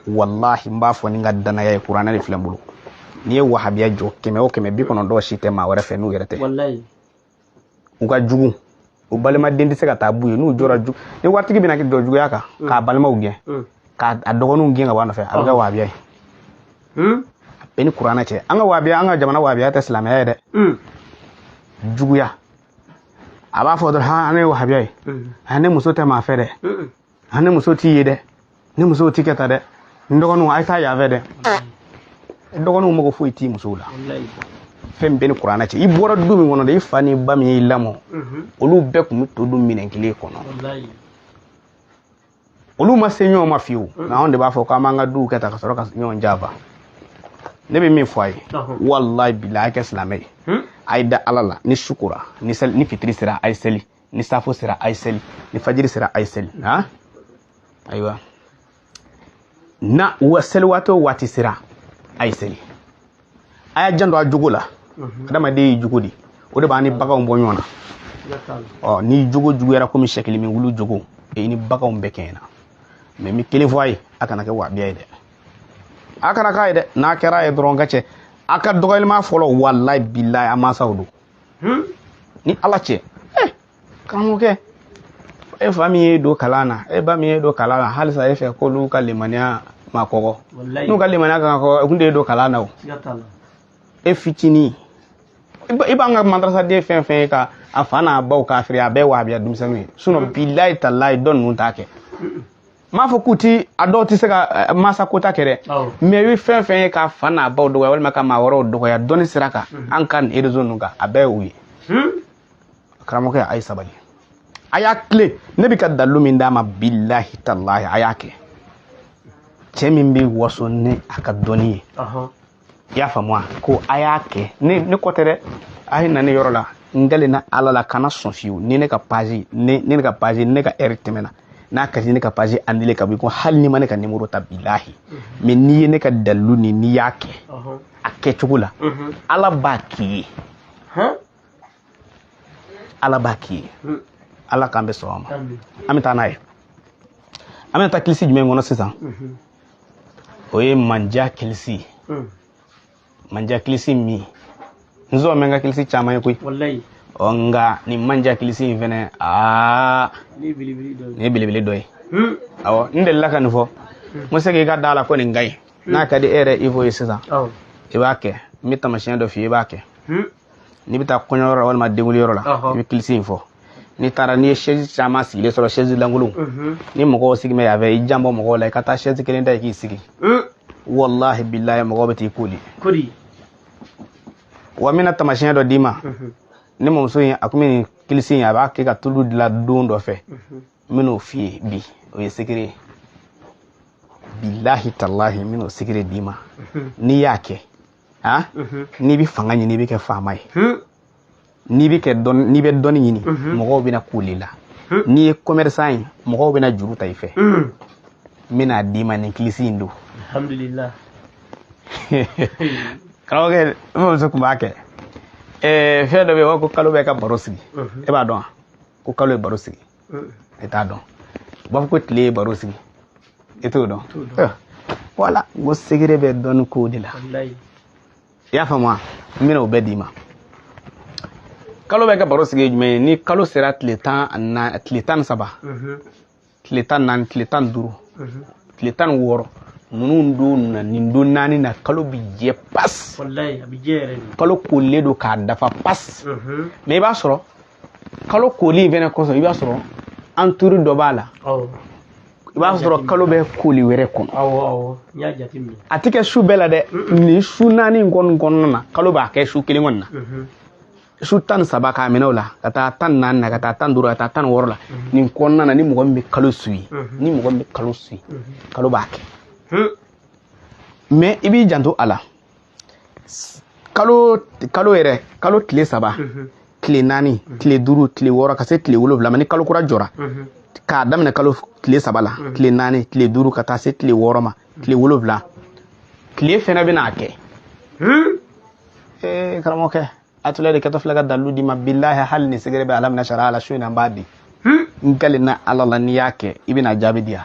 walahi n b'a fɔ ni n ka danaya ye kuranɛ de filɛ n bolo n'i ye wahabiya jɔ kɛmɛ o kɛmɛ bi kɔnɔntɔn si tɛ maa wɛrɛ fɛ n'u yɛrɛ tɛ u ka jugu u balimaden tɛ se ka taa b'u ye n'u jɔra ju ni waritigi bɛna jɔ juguya kan mm. k'a balimaw gɛn mm. k'a dɔgɔninw gɛn ka bɔ a nɔfɛ a bɛ kɛ wabiya ye mm. bɛɛ ni kuranɛ cɛ an ka wabiya an ka jamana wabiya tɛ silamɛya ye dɛ juguya a b'a fɔ dɔrɔn han ne ye wabiya ye han ne muso tɛ maa fɛ dɛ a ne muso t'i ye dɛ ne muso t'i kɛ ta dɛ n dɔgɔninw a ye taa yan fɛ dɛ dɔgɔninw mago foyi t'i musow la fɛn bɛɛ ni kuranɛ cɛ i bɔra du min kɔnɔ de i fa n'i ba min y'i lamɔ olu bɛɛ tun bɛ to dun minɛn kelen kɔnɔ olu ma se ɲɔgɔn ma fiyewu nka anw de b'a fɔ k'an b'an ka duw kɛ ta ka sɔrɔ ka ɲɔgɔn janfa ne bɛ min fɔ a ye walayi bilayi a kɛ silamɛ ye a ye da ala la ni su kora ni seli ni fitiri sera a ye seli ni safo sera a ye seli ni fajiri sera a ye seli ha ayiwa na wa seli waati o waati sera a ye seli a y'a janto a jogo la adamaden ye jogo di o de b'an ni baganw bɔ ɲɔgɔn na ɔ ni jogo juguyara komi sɛkili min wulu jogo e ni baganw bɛɛ kɛɲɛna mais n bɛ kelen fɔ a ye a kana kɛ wabiya ye dɛ a kana k'a ye dɛ n'a kɛra a ye dɔrɔn ka cɛ a ka dɔgɔyali maa fɔlɔ walayi bilayi a mansaw don hmm? ni ala cɛ eh, karamɔgɔkɛ e fa min y'e don kalan na e ba min y'e don kalan na halisa e fɛ k'olu ka limaniya ma kɔgɔ n'u ka limaniya kan ka kɔgɔ u kun t'e don kalan na o e fitinin i b'an ka madrasaden fɛn fɛn ye ka a fa n'a baw kafiri a bɛɛ wahabiya denmisɛnninw ye sinɔn bilayi talayi dɔ ninnu t'a kɛ n m'a fɔ k'u ti a dɔw tɛ se ka eh, mansa kota kɛ dɛ mɛ i bɛ fɛn fɛn ye k'a fa n'a baw dɔgɔya walima ka maa wɛrɛw dɔgɔya dɔnni sira kan mhm. an ka nin erezo ninnu kan a bɛɛ ye u ye hmm? karamɔgɔkɛ a ye sabali a y'a tilen ne bɛ ka dalilu min d'a ma bilahi talahi a y'a kɛ cɛ min bɛ waso ni a ka dɔnni ye i y'a faamu wa ko a y'a kɛ ne ne ko tɛ dɛ a ye na ne yɔrɔ la n kalen na ala la kana sɔn fiyewu ni ne ka pazi ne ne ka pazi ne ka ɛri tɛmɛna n'a ka di ne ka pazi anile ka bɔ i ko hali n'i ma ne ka nimoro ta bilahi mɛ n'i ye ne ka dalilu nin n'i y'a kɛ a kɛcogo la ala b'a k'i ye ala b'a k'i ye ala k'an bɛɛ sɔn a ma an bɛ taa n'a ye an bɛna taa kilisi jumɛn kɔnɔ sisan o ye manja kilisi hmm. manja kilisi min n zɔn bɛ n ka kilisi caman ye koyi ɔ nka nin manja kilisi in fɛnɛ aa nin ye belebele dɔ ye hmm. awɔ n delila ka nin fɔ hmm. n ko se k'i ka da la ko nin ka ɲi n'a ka di e yɛrɛ i b'o ye sisan i b'a kɛ n bɛ tamasiyɛn dɔ f'i ye i b'a kɛ n'i bɛ taa kɔɲɔyɔrɔ la walima denwuliyɔrɔ la i bɛ kilisi in fɔ n'i taara n'i ye sɛzi caman sigilen sɔrɔ sɛzi lankolon mhm. ni mɔgɔw sigi bɛ yan fɛ i janbɔ mɔgɔw la i ka taa sɛzi kelen ta i k'i sigi mm. walahi bilahi mɔgɔw bɛ t'i kooli kodi wa n bɛna tamasiyɛn dɔ d'i ma mhm. ne mamuso in a tun bɛ nin kilisi in a b'a kɛ ka tulu dilan don dɔ fɛ mhm. n bɛn'o f'i ye bi o ye sekere ye bilahi talahi n bɛn'o sekere d'i ma n'i y'a kɛ a mhm. n'i bɛ fanga ɲini i bɛ kɛ faama ye hmm. n'i bɛ kɛ dɔn n'i bɛ dɔnni ɲini mhm. mɔgɔw bɛna kooli i la hmm. n'i ye commerçant ye mɔgɔw bɛna juru ta i fɛ hmm. n bɛn'a d'i ma nin kilisi in don alhamdulilah karamɔgɔkɛ n mamuso tun b'a kɛ fɛn dɔ bɛ yen u b'a fɔ ko kalo bɛ ka baro sigi e b'a dɔn wa ko kalo ye baro sigi e t'a dɔn u b'a fɔ ko tile ye baro sigi e t'o dɔn wala n ko sekere bɛ dɔnni ko de la i y'a faamu wa n bɛna o bɛɛ d'i ma kalo bɛ ka baro sigi ye jumɛn ye ni kalo sera tile tan na tile tan ni saba tile tan naani tile tan ni duuru tile tan ni wɔɔrɔ ninnu don na nin don naani na kalo bi jɛ pas kalo koolilen don ka dafa pas mɛ i b'a sɔrɔ kalo koli in fɛnɛ kɔsɔn i b'a sɔrɔ entouré dɔ b'a la i b'a sɔrɔ kalo bɛ koli wɛrɛ kɔnɔ a tɛ kɛ su bɛɛ la dɛ nin su naani in kɔni kɔnɔna na kalo b'a kɛ su kelen kɔni na mhm. su tan ni saba k'a minɛ o la ka taa tan ni naani na ka taa tan ni duuru ka taa tan ni wɔɔrɔ la mhm. nin kɔnɔna na ni mɔgɔ min bɛ kalo su ye mhm. ni mɔgɔ min bɛ kalo su ye kalo b'a kɛ mais i b'i janto a la kalo kalo yɛrɛ kalo tile saba tile naani tile duuru tile wɔɔrɔ ka se tile wolonwula ma ni kalo kura jɔra k'a daminɛ kalo tile saba la tile naani tile duuru ka taa se tile wɔɔrɔ ma tile wolonwula tile fɛnɛ bɛna a kɛ ee karamɔgɔkɛ a tila de kɛtɔ filɛ ka dalilu d'i ma bilahi hali ni segere bɛ ala minɛ sariya la su in na n b'a di n kalen na ala la n'i y'a kɛ i bɛna jaabi di yan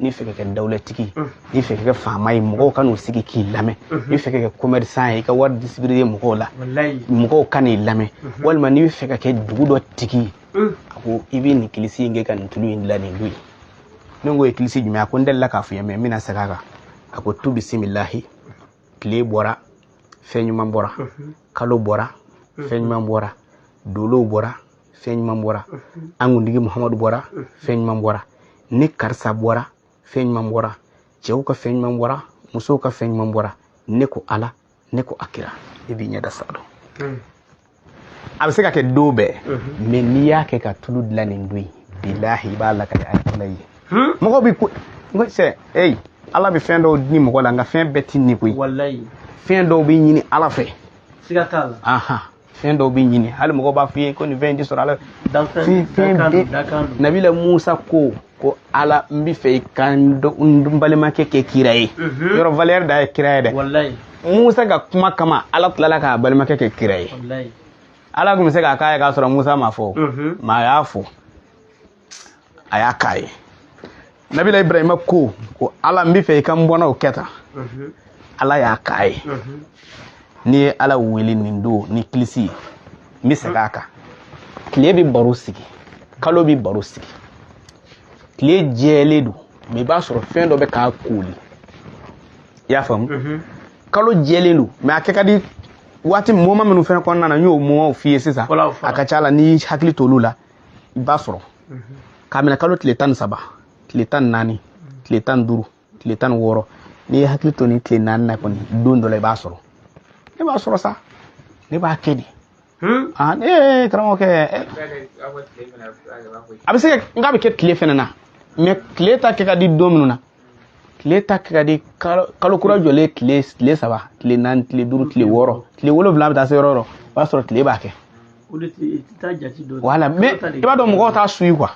n'i fɛ ka kɛ dawulatigi ye n'i fɛ ka kɛ faama ye mɔgɔw ka n'u sigi k'i lamɛn n'i fɛ ka kɛ commerçant ye i ka wari distribuer mɔgɔw la mɔgɔw ka n'i lamɛn walima n'i fɛ ka kɛ dugu dɔ tigi ye a ko i bɛ nin kilisi in kɛ ka nin tulu in dilan nin don ye ne k'o ye kilisi jumɛn a ko n delila k'a f'i ye mais n bɛna segin a kan a ko tu bisimilahi tile bɔra fɛn ɲuman bɔra kalo bɔra fɛn ɲuman bɔra dolow bɔra fɛn ɲuman bɔra an kuntigi muhamadu bɔra fɛn ɲuman bɔra ne karisa bɔra fɛn ɲuman bɔra cɛw ka fɛn ɲuman bɔra musow ka fɛn ɲuman bɔra ne ko ala ne ko a kira i b'i ɲɛda saalon hmm. a bɛ se ka kɛ don bɛɛ hmm. mais n'i y'a kɛ ka tulu dilan nin don ye bilahi i b'a lakali a kɔnɔ ye hmm. mɔgɔ bɛ ko n ko sɛ eyi ala bɛ fɛn dɔw di mɔgɔ la nka fɛn bɛɛ tɛ di koyi fɛn dɔw bɛ ɲini ala fɛ siga t'a la fɛn dɔw bɛ ɲini hali mɔgɔw b'a f'i ye ko nin fɛn in tɛ sɔrɔ ala fɛ fɛn bɛɛ nabila musa ko ko ala n bɛ fɛ i ka n balimakɛ kɛ kira ye mhm. yɔrɔ valeur da ye kira ye dɛ musa ka kuma kama ala tilala k'a balimakɛ kɛ kira ye ala tun bɛ se k'a k'a ye k'a sɔrɔ musa m'a fɔ mhm. mais a y'a fɔ a y'a k'a ye nabila ibrahima ko ko ala n bɛ fɛ i ka n bɔnnaw kɛ tan mhm. ala y'a k'a ye mhm. n'i ye ala wele nin don ni kilisi ye n bɛ segin a kan tile bɛ baro sigi kalo bɛ baro sigi tile jɛlen don mais i b'a sɔrɔ fɛn dɔ bɛ k'a koli i y'a faamu mhm. kalo jɛlen don mais a kɛ ka di waati moment minnu fɛnɛ kɔnɔna na n y'o momentw f'i ye sisan a ka ca la n'i hakili t'olu la i b'a sɔrɔ k'a minɛ kalo tile tan ni saba tile tan ni naani tile tan ni duuru tile tan ni wɔɔrɔ n'i y'i hakili to nin tile naani na kɔni don dɔ la i b'a sɔrɔ ne b'a sɔrɔ sa ne b'a kɛ di ee karamɔgɔkɛ a bɛ se ka n k'a bɛ kɛ tile fɛnɛ na mais tile ta kɛ ka di don minnu na tile ta kɛ ka di kalo kura jɔlen tile tile saba tile naani tile duuru tile wɔɔrɔ tile wolonwula bɛ taa se yɔrɔ yɔrɔ o b'a sɔrɔ tile b'a kɛ voilà mais i b'a dɔn mɔgɔw t'a suyi quoi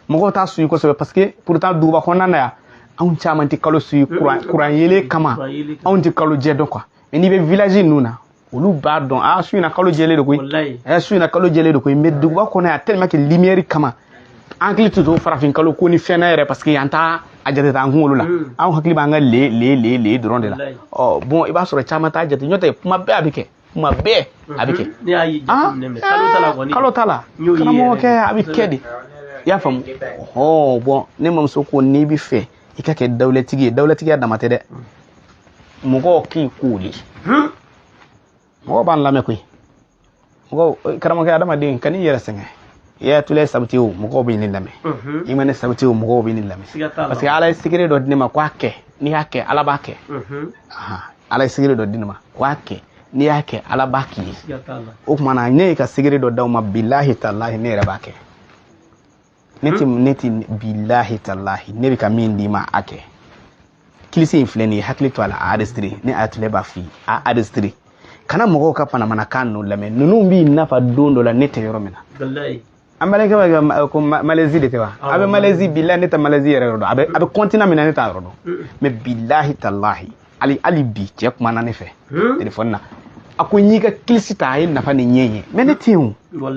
mɔgɔw t'a suyi kosɛbɛ parce que pourtant duguba kɔnɔna na yan anw caman tɛ kalo suyi kuran yeelen kama anw tɛ kalo jɛ dɔn quoi mais n'i bɛ village ninnu na olu b'a dɔn a su in na kalo jɛlen de koyi ɛ su in na kalo jɛlen de koyi mais duguba kɔnɔ yan tellement que lumière kama an hakili tɛ to farafin kalo ko ni fɛn na yɛrɛ parce que an t'a a jate t'an kunkolo la mm. an hakili b'an ka le le le le dɔrɔn de la ɔ bon i b'a sɔrɔ caman t'a jate n'o tɛ kuma bɛɛ a bɛ kɛ kuma bɛɛ a bɛ kɛ kalo t'a la karamɔgɔkɛ a bɛ kɛ de i y'a faamu ɔ bon ne mamuso ko n'i b'a fɛ i ka kɛ dawulatigi ye dawulatigiya dama tɛ dɛ mɔgɔw k'i kooli mɔgɔw b'an lamɛn koyi mɔgɔw karamɔgɔkɛ adamaden kan'i yɛrɛ sɛgɛn i y'atula sabati o mɔgɔw bɛ ne lamɛn mhm. i ma ne sabati o mɔgɔw bɛ ne lamɛn parce que ala ye secret dɔ di ne ma ko a kɛ n'i y'a kɛ ala b'a kɛ mhm. ala ye secret dɔ di ne ma ko a kɛ n'i y'a kɛ ala b'a k'i ye o tuma na ne ye ka secret dɔ d'aw ma bilahi talahi ne yɛrɛ b'a kɛ ne tɛ ne tɛ bilahi talahi ne bɛ ka min d'i ma a kɛ kilisi in filɛ nin ye hakili to a la a enregistrer ne atula b'a f'i ye a enregistrer kana mɔgɔw ka manamanakan ninnu lamɛn ninnu b'i nafa don dɔ la ne tɛ yɔrɔ min na an balimakɛ b'a kɛ ko malɛzi de tɛ wa a bɛ malɛzi bilahi ne tɛ malɛzi yɛrɛ yɔrɔ dɔn a bɛ a bɛ continent min na ne t'a yɔrɔ dɔn mais bilahi talahi hali hali bi cɛ kumana ne fɛ telefɔni na a ko n y'i ka kilisi ta a ye nafa ni ɲɛ ye mais ne tɛ yen o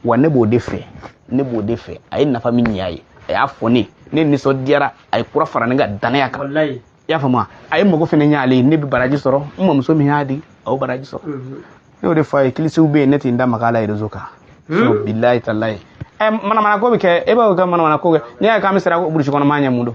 wa ne b'o de fɛ ne b'o de fɛ a ye nafa min ɲ'a ye a y'a fɔ ne ne nisɔndiyara a ye kura fara ne ka danaya kan i y'a faamuya a ye mago fɛnɛ ɲ'ale ye ne bɛ baraji sɔrɔ n mamuso min y'a di a y'o baraji sɔrɔ mhm. ne y'o de fɔ a ye kilisiw bɛ yen ne tɛ n da maga a la réseau kan hmm? bilahi talahi ɛ eh, manamanako bɛ kɛ e b'o kɛ manamanako kɛ n'i y'a ye k'an bɛ siran burusi kɔnɔ maa ɲɛ mun don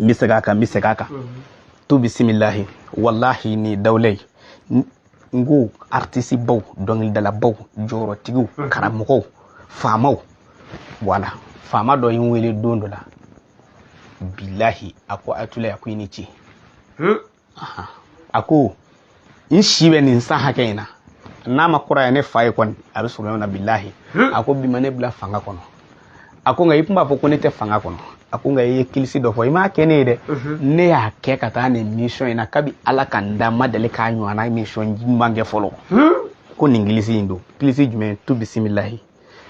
n bɛ segin a kan n bɛ segin a kan tu bisimilahi walahi ni dawula ye n ko artisibaw dɔnkilidalabaw jɔyɔrɔtigiw karamɔgɔw faamaw voilà faama dɔ ye n wele don dɔ la bilahi a ko atula a ko i ni ce a ko n si bɛ nin san hakɛ in na n'a ma kɔrɔya ne fa ye kɔni a bɛ sɔrɔ na bilahi a ko bi ma ne bila fanga kɔnɔ a ko nka i tun b'a fɔ ko ne tɛ fanga kɔnɔ a ko nka i ye kilisi dɔ fɔ i m'a kɛ ne ye dɛ ne y'a kɛ ka taa nin mission in na kabi ala ka n da n ma deli k'a ɲɔgɔnna mission ɲuman kɛ fɔlɔ ko nin kilisi in don kilisi jumɛn tu bisimilahi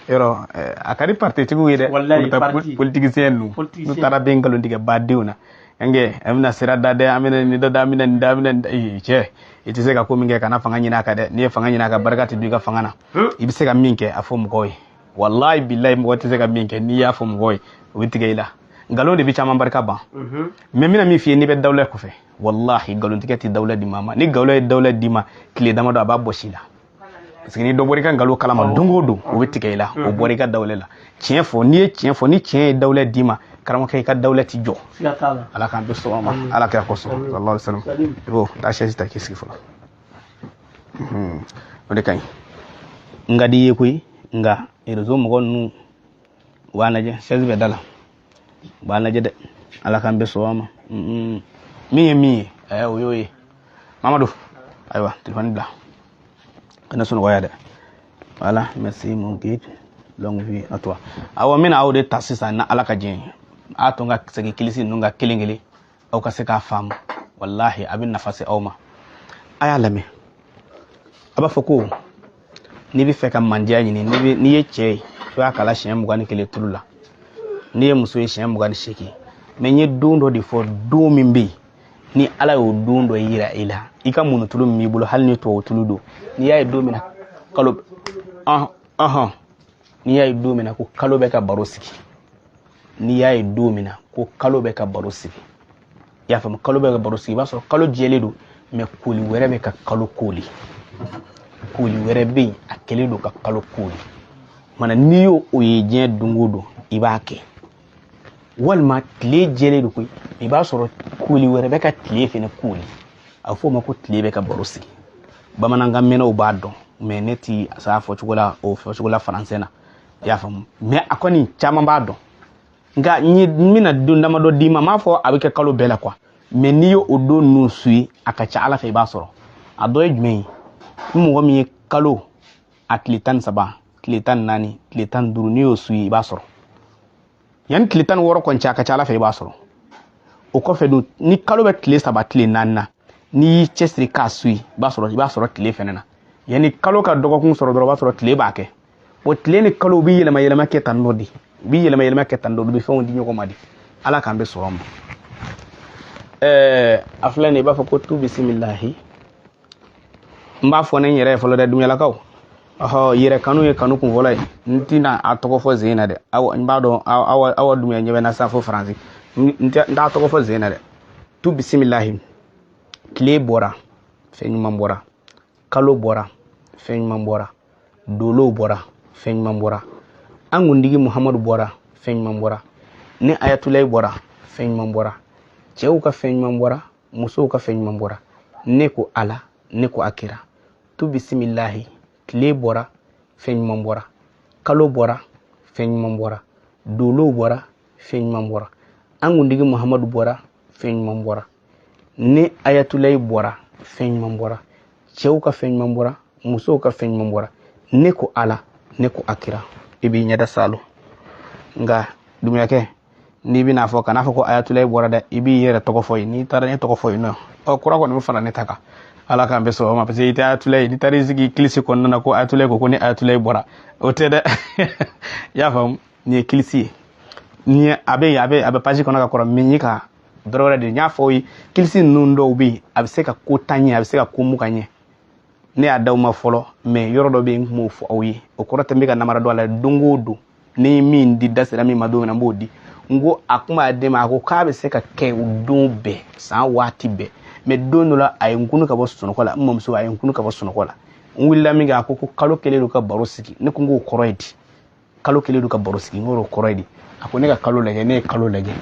yɔrɔ eh, a ka di partitigiw ye dɛ politisiɲɛ ninnu n'u taara bɛ nkalon tigɛ badenw na yan kɛ an bɛna sira da dɛ an bɛna nin dɔ da an bɛna nin da an bɛna nin cɛ i tɛ se ka ko min kɛ kana fanga ɲini a kan dɛ n'i ye fanga ɲini a kan barika tɛ don i ka fanga na hmm. i bɛ se ka min kɛ a fɔ mɔgɔw ye walayi bilayi mɔgɔ tɛ se ka min kɛ n'i y'a fɔ mɔgɔw ye u bɛ tigɛ i la nkalon de bɛ caman barika ban mɛ mhm. n bɛna min f'i ye n'i bɛ dawula ko fɛ walahi nkalontigɛ tɛ dawula di maa ma ni nkalon ye dawula d'i ma tile damadɔ a b'a bɔsi i la parce que ni dɔ bɔra i ka nkalon kalama don o don o bɛ tigɛ i la o bɔra i ka dawula la tiɲɛ fɔ n'i ye tiɲɛ fɔ ni tiɲɛ ye dawula d'i ma karamɔgɔkɛ i ka dawula tɛ jɔ ala k'an bɛɛ sɔn a ma ala kira kosɔn sallallahu alaihi wasallam i b'o taa chaise ta k'i sigi fɔlɔ o de ka ɲi n ka di i ye koyi nka rezo mɔgɔ ninnu waa naje sɛzi bɛ da la waa naje dɛ ala k'an bɛɛ sɔn a ma min ye min ye ɛɛ o y'o ye mamadu ayiwa telefɔni bila kana sunɔgɔ yan dɛ voilà merci mon guide longue vie à toi awɔ n bɛna aw de ta sisan ni ala ka jɛn ye a to n ka segin kilisi ninnu kan kelen kelen aw ka se k'a faamu walahi a bɛ nafa se aw ma a y'a lamɛn a b'a fɔ ko n'i b'a fɛ ka mandiya ɲini n'i ye cɛ ye i b'a kalan siɲɛ mugan ni kelen tulu la n'i ye muso ye siɲɛ mugan ni seegin mɛ n ye don dɔ de fɔ don min bɛ yen ni ala y'o don dɔ yira i la i ka mun tulu min b'i bolo hali ni tubabu tulu don n'i y'a ye don min na kalo ɔhɔn n'i y'a ye don min na ko kalo bɛ ka baro sigi n'i y'a ye don min na ko kalo bɛ ka baro sigi i y'a faamu kalo bɛ ka baro sigi i b'a sɔrɔ kalo jɛlen don mɛ kooli wɛrɛ bɛ ka kalo kooli kooli wɛrɛ bɛ yen a kɛlen don ka kalo kooli mana n'i y'o o ye diɲɛ don o don i b'a kɛ walima tile jɛlen don koyi i b'a sɔrɔ kooli wɛrɛ bɛ ka tile fɛnɛ kooli a bɛ f'o ma ko tile bɛ ka baro sigi bamanankan mɛnnaw b'a dɔn mɛ ne tɛ se a fɔcogo la o fɔcogo la faransɛ na i y'a faamu mɛ aw kɔni caman b'a dɔn nka n bɛna don damadɔ d'i ma n m'a fɔ a bɛ kɛ kalo bɛɛ la quoi mɛ n'i y'o o don ninnu suivi a ka ca ala fɛ i b'a sɔrɔ a don ye jumɛn ye ni mɔgɔ min ye kalo a tile tan ni saba tile tan ni naani tile tan ni duuru n'i y'o suivi i b'a sɔrɔ yanni tile tan ni wɔɔrɔ kɔni cɛ a ka ca ala fɛ i b'a sɔrɔ o kɔfɛ dun ni kalo bɛ tile saba tile naani na n'i y'i cɛsiri k'a suivi i b'a sɔrɔ i b'a sɔrɔ tile fɛnɛ na yanni kalo ka dɔgɔkun sɔrɔ dɔrɔn o b'a sɔrɔ tile b'a kɛ o tile ni kalo u bɛ yɛlɛma yɛlɛma kɛ tan dɔ de u bɛ yɛlɛma yɛlɛma kɛ tan dɔ u bɛ fɛnw di ɲɔgɔn ma de ala k'an bɛɛ sɔn a ma ɛɛ a filɛ nin ye i b'a fɔ ko tu bisimilahi n b'a fɔ ne n yɛrɛ ye fɔlɔ dɛ dunyalakaw ɔhɔ yɛrɛ kanu ye kanu kun fɔlɔ ye n tɛna a tɔgɔ fɔ zen na dɛ aw n b'a dɔn awa dunya ɲɛ bɛ na sa fo faransi n t'a tɔgɔ fɔ zen na dɛ tu bisimilahi tile bɔra fɛn ɲuman bɔra kalo bɔra fɛn ɲuman bɔra dolow bɔra fɛn ɲuman bɔra an kuntigi muhamadu bɔra fɛn ɲuman bɔra ne ayatulayi bɔra fɛn ɲuman bɔra cɛw ka fɛn ɲuman bɔra musow ka fɛn ɲuman bɔra ne ko ala ne ko a kira tu bisimilahi tile bɔra fɛn ɲuman bɔra kalo bɔra fɛn ɲuman bɔra dolow bɔra fɛn ɲuman bɔra an kuntigi muhamadu bɔra fɛn ɲuman bɔra ne ayatulayi bɔra fɛn ɲuman bɔra cɛw ka fɛn ɲuman bɔra musow ka fɛn ɲuman bɔra ne ko ala ne ko a kira i b'i ɲɛda salo nka dumuyakɛ n'i bɛna fɔ kana fɔ ko ayatulayi bɔra dɛ i b'i yɛrɛ tɔgɔ fɔ yen n'i taara ne tɔgɔ fɔ yen nɔɔrɔ kura kɔni bɛ fara ne ta kan ala k'an bɛn sɔgɔma parce que i tɛ ayatulayi n'i taara i sigi kilisi kɔnɔna na ko ayatulayi ko ko ne ayatulayi bɔra o tɛ dɛ i y'a faamu nin ye kilisi ye nin ye a bɛ yen a bɛ a bɛ page kɔnɔ ka kɔrɔ min ka dɔrɔ wɛrɛ de n y'a fɔ aw ye kilisi ninnu dɔw bɛ yen a bɛ se ka ko tan ɲɛ a bɛ se ka ko mugan ɲɛ ne y'a d'aw ma fɔlɔ mɛ yɔrɔ dɔ bɛ yen n tun b'o fɔ aw ye o kɔrɔ tɛ n bɛ ka namara don a la don o don ne ye min di da sera min ma don min na n b'o di n ko a kuma a den ma a ko k'a bɛ se ka kɛ o don bɛɛ san waati bɛɛ mɛ don dɔ la a ye n kunu ka bɔ sunɔgɔ la n mamuso a ye n kunu ka bɔ sunɔgɔ la n wulila min kɛ a ko ko kalo kɛlen don ka baro sigi ne ko n k'o kɔrɔ ye di kalo kɛlen don ka baro sigi n k'o kɔrɔ ye di a ko ne ka kalo lajɛ ne ye kalo lajɛ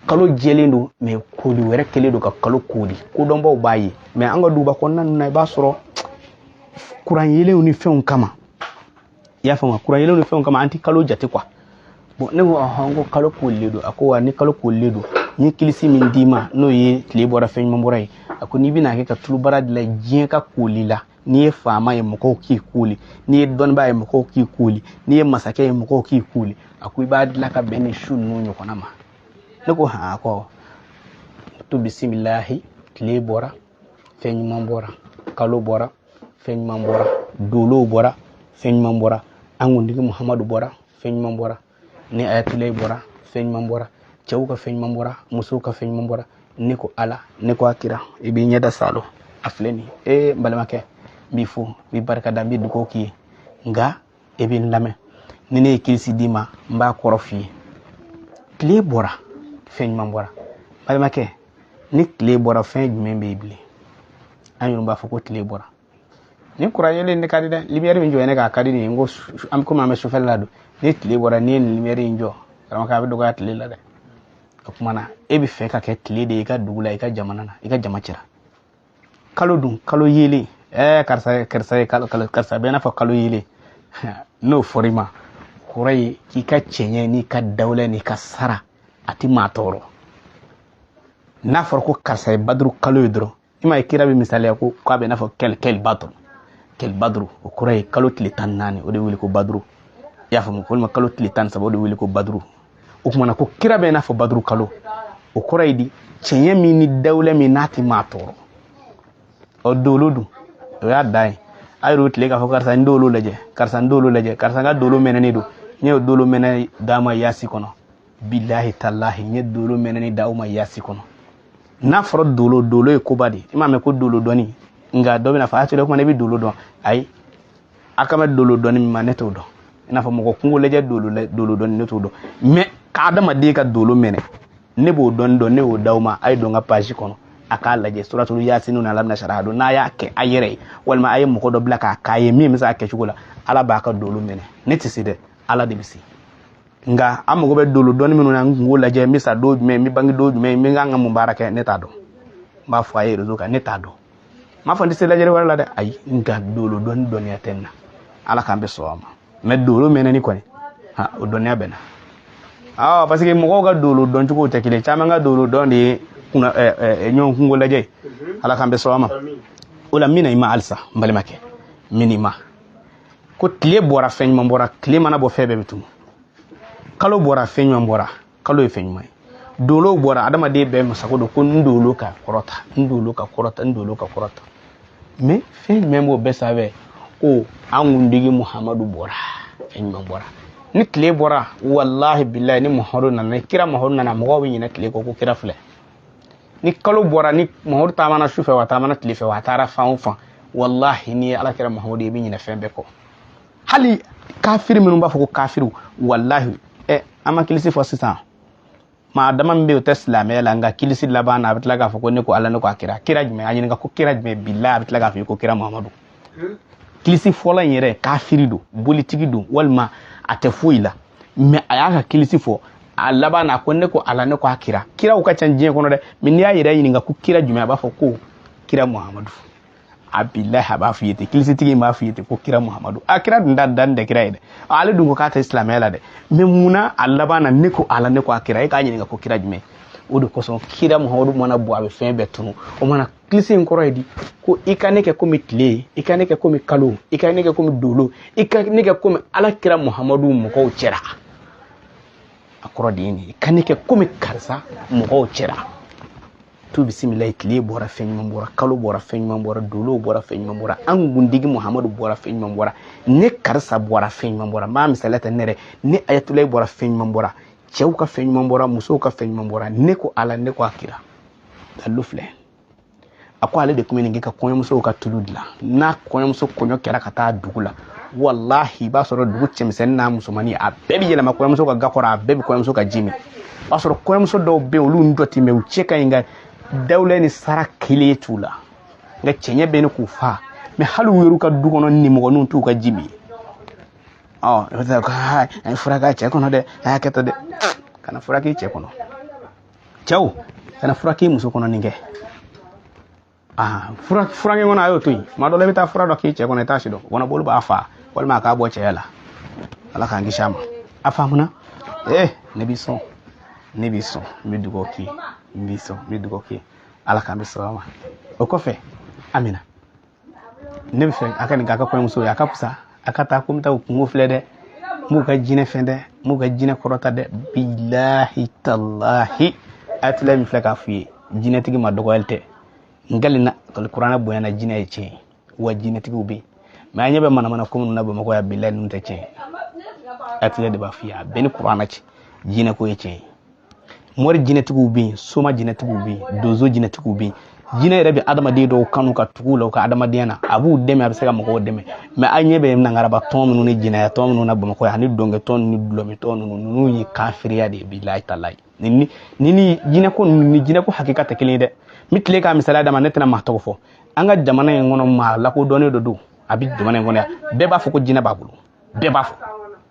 kalo jɛlen don mɛ koli wɛrɛ kɛlen don ka kalo koli kodɔnbaw b'a ye mɛ an ka duguba kɔnɔna ninnu na i b'a sɔrɔ kuran yelenw ni fɛnw kama i y'a faamuya kuran yelenw ni fɛnw kama an tɛ kalo jate quoi bon ne ko ɔhɔn ko kalo kolilen don a ko wa ni kalo kolilen don n ye kilisi min d'i ma n'o ye tile bɔra fɛn ɲuman bɔra ye a ko n'i bɛna kɛ ka tulubara dilan diɲɛ ka koli la n'i ye faama ye mɔgɔw k'i koli n'i ye dɔnnibaa ye mɔgɔw k'i koli n'i ye masakɛ ye mɔgɔw k'i koli a ko i b'a dilan ka bɛn ni su ninnu ɲɔgɔnna ma ne ko han a ko tu bisimilahi tile bɔra fɛn ɲuman bɔra kalo bɔra fɛn ɲuman bɔra dolow bɔra fɛn ɲuman bɔra an kuntigi muhamadu bɔra fɛn ɲuman bɔra ne ayatulayi bɔra fɛn ɲuman bɔra cɛw ka fɛn ɲuman bɔra musow ka fɛn ɲuman bɔra ne ko ala ne ko a kira i b'i ɲɛda salo a filɛ nin ye n balimakɛ n b'i fo n b'i barika da n bɛ dugawu k'i ye nka e bɛ n lamɛn ni ne ye kirisi d'i ma n b'a kɔrɔ f'i ye tile bɔra fɛn ɲuman bɔra balimakɛ ni tile bɔra fɛn jumɛn bɛ yen bilen an yɛrɛ b'a fɔ ko tile bɔra nin kuran yelen ne ka di dɛ limiyɛri min jɔ ne k'a ka di nin ko an bɛ komi an bɛ sufɛla la don ni tile bɔra n'i ye nin limiyɛri in jɔ karamɔgɔ a bɛ dɔgɔya tile la dɛ o kuma na e b'a fɛ ka kɛ tile de ye i ka dugu la i ka jamana na i ka jama cɛra kalo dun kalo yelen ɛɛ eh, karisa karisa ye kalo kalo karisa bɛ i n'a fɔ kalo yelen n'o fɔra i ma kɔrɔ ye k'i ka cɛɲɛ n'i ka dawula n'i ka sara a tɛ maa tɔɔrɔ n'a fɔra ko karisa ye baduru kalo ye dɔrɔn i ma ye kira bɛ misaliya ko k'a bɛ n'a fɔ kɛli kɛli bato kɛli baduru o kɔrɔ ye kalo tile tan ni naani o de wele ko baduru i y'a faamu walima kalo tile tan ni saba o de wele ko baduru o kumana ko kira bɛ n'a fɔ baduru kalo o kɔrɔ ye di cɛɲɛ min ni dawula min n'a tɛ maa tɔɔrɔ ɔ dolo dun o y'a dan ye a yɛrɛw tile k'a fɔ karisa n dolo lajɛ karisa n dolo lajɛ karisa n ka dolo mɛnɛnen don n ye dolo mɛnɛ d'a ma yasi kɔnɔ bilahi talahi n ye dolo mɛnɛni d'aw ma yasi kɔnɔ n'a fɔra dolo dolo ye koba de ye i m'a mɛn ko dolo dɔnni nka dɔ bɛna fɔ a tɛrɛ kuma ne bɛ dolo dɔn ayi a kan bɛ dolo dɔnni min ma ne t'o dɔn i n'a fɔ mɔgɔ kunko lajɛ dolo dolo dɔnni ne t'o dɔn mɛ ka adamaden ka dolo mɛnɛ ne b'o dɔnni dɔn ne y'o d'aw ma a ye don n ka page kɔnɔ a k'a lajɛ suratulu yasinu na ala bɛna sara don n'a y'a kɛ a yɛrɛ ye walima a ye mɔgɔ dɔ bila k'a k'a ye min bɛ se a kɛcogo la ala b'a ka dolo mɛnɛ ne tɛ se dɛ ala de bɛ se nka an mago bɛ dolo dɔnni minnu na n kunko lajɛ n bɛ sa don jumɛn n bɛ bange don jumɛn n bɛ kan ka mun baara kɛ ne t'a dɔn n b'a fɔ a ye rezo kan ne t'a dɔn n m'a fɔ n tɛ se lajɛli wɛrɛ la dɛ ayi nka dolo dɔnni dɔnniya tɛ n na ala k'an bɛ sɔn a ma mɛ dolo mɛnɛni kɔni ha o dɔnniya bɛ n na awɔ parce que mɔgɔw ka dolo dɔn cogo tɛ kelen caman ka dolo dɔn de ye kuna ɲɔgɔn kunko lajɛ ala k'an bɛ sɔn a ma o la n bɛ na i ma halisa n balimakɛ n bɛ na i ma ko tile bɔra fɛn ɲuman bɔra tile mana bɔ fɛn bɛɛ bɛ tunu kalo bɔra fɛn ɲuman bɔra kalo ye fɛn ɲuman ye dolo bɔra adamaden bɛɛ masago don ko n dolo ka kɔrɔta n dolo ka kɔrɔta n dolo ka kɔrɔta mɛ fɛn jumɛn b'o bɛɛ sanfɛ ko an kuntigi muhamadu bɔra fɛn ɲuman bɔra ni tile bɔra walahi bilahi ni muhamadu nana ni kira muhamadu nana mɔgɔw bɛ ɲinɛ tile kɔ ko kira filɛ ni kalo bɔra ni muhamadu taamana su fɛ wa taamana tile fɛ wa a taara fan o fan walahi n'i ye ala kira muhamadu ye i bɛ ɲinɛ fɛn bɛɛ kɔ hali kafiri minnu b'a fɔ ko kafiriw walahi ɛ an ma kilisi fɔ sisan maa dama min bɛ yen o tɛ silamɛya la nka kilisi laban na a bɛ tila k'a fɔ ko ne ko ala ne ko a kira kira jumɛn a ɲininka ko kira jumɛn bilahi a bɛ tila k'a fɔ i ko kira mamadu kilisifɔla in yɛrɛ kafiri don bolitigi don walima a tɛ foyi la mɛ a y'a ka kilisi fɔ a laban na ko ne ko ala ne ko a kira kiraw ka ca diɲɛ kɔnɔ dɛ mɛ n'i y'a yɛrɛ ɲininka ko kira jumɛn a b'a fɔ ko kira muhamadu a bilahi a b'a f'i ye ten kilisitigi in b'a f'i ye ten ko kira muhamadu a kira dun da dan tɛ kira ye dɛ ale dun ko k'a tɛ silamɛya la dɛ mɛ munna a laban na ne ko ala ne ko a kira e k'a ɲininka ko kira jumɛn o de kosɔn kira muhamadu mana bɔ a bɛ fɛn bɛɛ tunu o mana kilisi in kɔrɔ ye di ko i ka ne kɛ komi tile i ka ne kɛ komi kalo i ka ne kɛ komi dolo i ka ne kɛ komi ala kira muhamadu mɔgɔw cɛra a kɔrɔ de ye nin i ka ne kɛ komi karisa mɔgɔw cɛra tu bisimilayi tile bɔra fɛn ɲuman bɔra kalo bɔra fɛn ɲuman bɔra dolow bɔra fɛn ɲuman bɔra an kuntigi muhamadu bɔra fɛn ɲuman bɔra ne karisa bɔra fɛn ɲuman bɔra n b'a misaliya ta ne yɛrɛ ne ayatulayi bɔra fɛn ɲuman bɔra cɛw ka fɛn ɲuman bɔra musow ka fɛn ɲuman bɔra ne ko ala ne ko a kira dalilu filɛ a ko ale de tun bɛ nin kɛ ka kɔɲɔmusow ka tulu dilan n'a kɔɲɔmuso kɔɲɔ kɛra ka taa dugu la walahi i b'a sɔrɔ dugu cɛmisɛnnin n'a musomannin a bɛɛ bɛ yɛlɛma kɔɲɔmuso ka ga kɔrɔ a bɛɛ bɛ kɔɲɔmuso ka ji min o b'a sɔrɔ kɔɲɔmuso dɔw bɛ yen olu dɔ tɛ mɛ u cɛ ka ɲi nka dawula ni sara kelen t'u la nka cɛɲɛ bɛ ɲini k'u fa mɛ hali u yɛrɛ ka du kɔnɔ nimɔgɔninw t'u ka ji min ɔ i bɛ taa ko a ye fura k'a cɛ kɔnɔ dɛ a y'a kɛ tan dɛ kana fura k'i cɛ kɔnɔ cɛw kana fura k'i muso kɔnɔ nin kɛ fura kɛ kɔnɔ a y'o to yen tuma dɔ la i bɛ taa fura dɔ k'i cɛ kɔnɔ i t'a si dɔn kɔnɔboli b'a fa walima a k'a bɔ cɛya la ala k'an kisi a ma a faamuna ee ne b'i sɔn ne b'i sɔn n bɛ dugawu k'i ye n b'i sɔn n bɛ dugawu k'i ye ala k'an bɛɛ sɔrɔ a ma o kɔfɛ amina ne bɛ fɛ a ka nin k'a ka kɔɲɔmuso ye a ka fisa a ka taa ko n bɛ taa o kunko filɛ dɛ n b'u ka jinɛ fɛn dɛ n b'u ka jinɛ kɔrɔta dɛ bilahi talahi ayatulayi min filɛ k'a f'u ye jinɛtigi ma dɔgɔyali tɛ n kalen na kuranɛ bonya na jinɛ ye tiɲɛ ye wa jinɛtigiw bɛ yen mɛ an ɲɛ bɛ manamana ko minnu na bamakɔ yan bilahi ninnu tɛ tiɲɛ ye ayatulayi de b'a f'i ye a bɛɛ ni kuranɛ cɛ jinɛko ye tiɲɛ ye mori jinɛtigiw bɛ yen soma jinɛtigiw bɛ yen donso jinɛtigiw bɛ yen jinɛ yɛrɛ bɛ adamaden dɔw kanu ka tugu u la u ka adamadenya na a b'u dɛmɛ a bɛ se ka mɔgɔw dɛmɛ mɛ an ɲɛ bɛ nangaraba tɔn ninnu ni jinɛya tɔn ninnu na bamakɔ yan ani dɔnkɛtɔn ni dulɔmintɔn ninnu ninnu ye kafiriya de ye bilahi talahi ni ni jinɛko ninnu ni jinɛko hakika tɛ kelen ye dɛ n bɛ tila k'a misaliya d'a ma ne tɛna maa tɔgɔ fɔ an ka jamana in kɔnɔ maa lakodɔnnen dɔ don a bɛ jamana in kɔnɔ yan bɛɛ b'a fɔ ko jinɛ b'a bolo bɛɛ b'a fɔ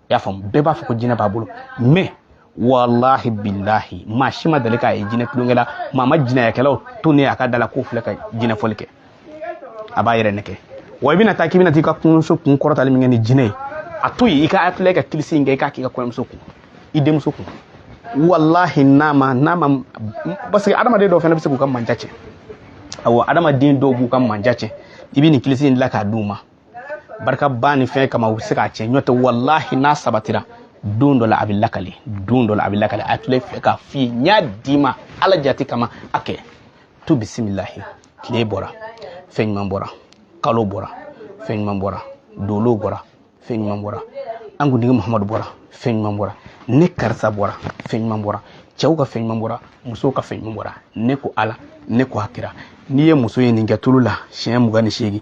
i y'a faamu bɛɛ b'a fɔ ko jinɛ b'a bolo mɛ walahi bilahi maa si ma deli k'a ye jinɛ tulonkɛ la maa ma jinɛyakɛlaw tonnen a ka da la k'u filɛ ka jinɛfɔli kɛ a b'a yɛrɛ nɛgɛn wa i bɛna taa k'i bɛna t'i ka kɔɲɔmuso kun kɔrɔtali min kɛ ni jinɛ ye a to yen i ka ayatulayi ka kilisi in kɛ i k'a k'i ka kɔɲɔmuso kun i denmuso kun walahi n'a ma n'a ma parce que adamaden dɔw fana bɛ se k'u ka manja cɛ awɔ adamaden dɔw b'u ka manja cɛ i bɛ nin kilisi in dilan k'a d'u ma barika ba ni fɛn kama u bɛ se k'a cɛn nɔntɛ walahi n'a sabatira don dɔ la a bɛ lakale don dɔ la a bɛ lakale a tile fɛ k'a f'i ye n y'a d'i ma ala jate kama a kɛ tu bisimilahi tile bɔra fɛn ɲuman bɔra kalo bɔra fɛn ɲuman bɔra dolo bɔra fɛn ɲuman bɔra an kuntigi muhamadu bɔra fɛn ɲuman bɔra ne karisa bɔra fɛn ɲuman bɔra cɛw ka fɛn ɲuman bɔra musow ka fɛn ɲuman bɔra ne ko ala ne ko a kira n'i ye muso ye nin kɛ tulu la siɲɛ mugan ni seegin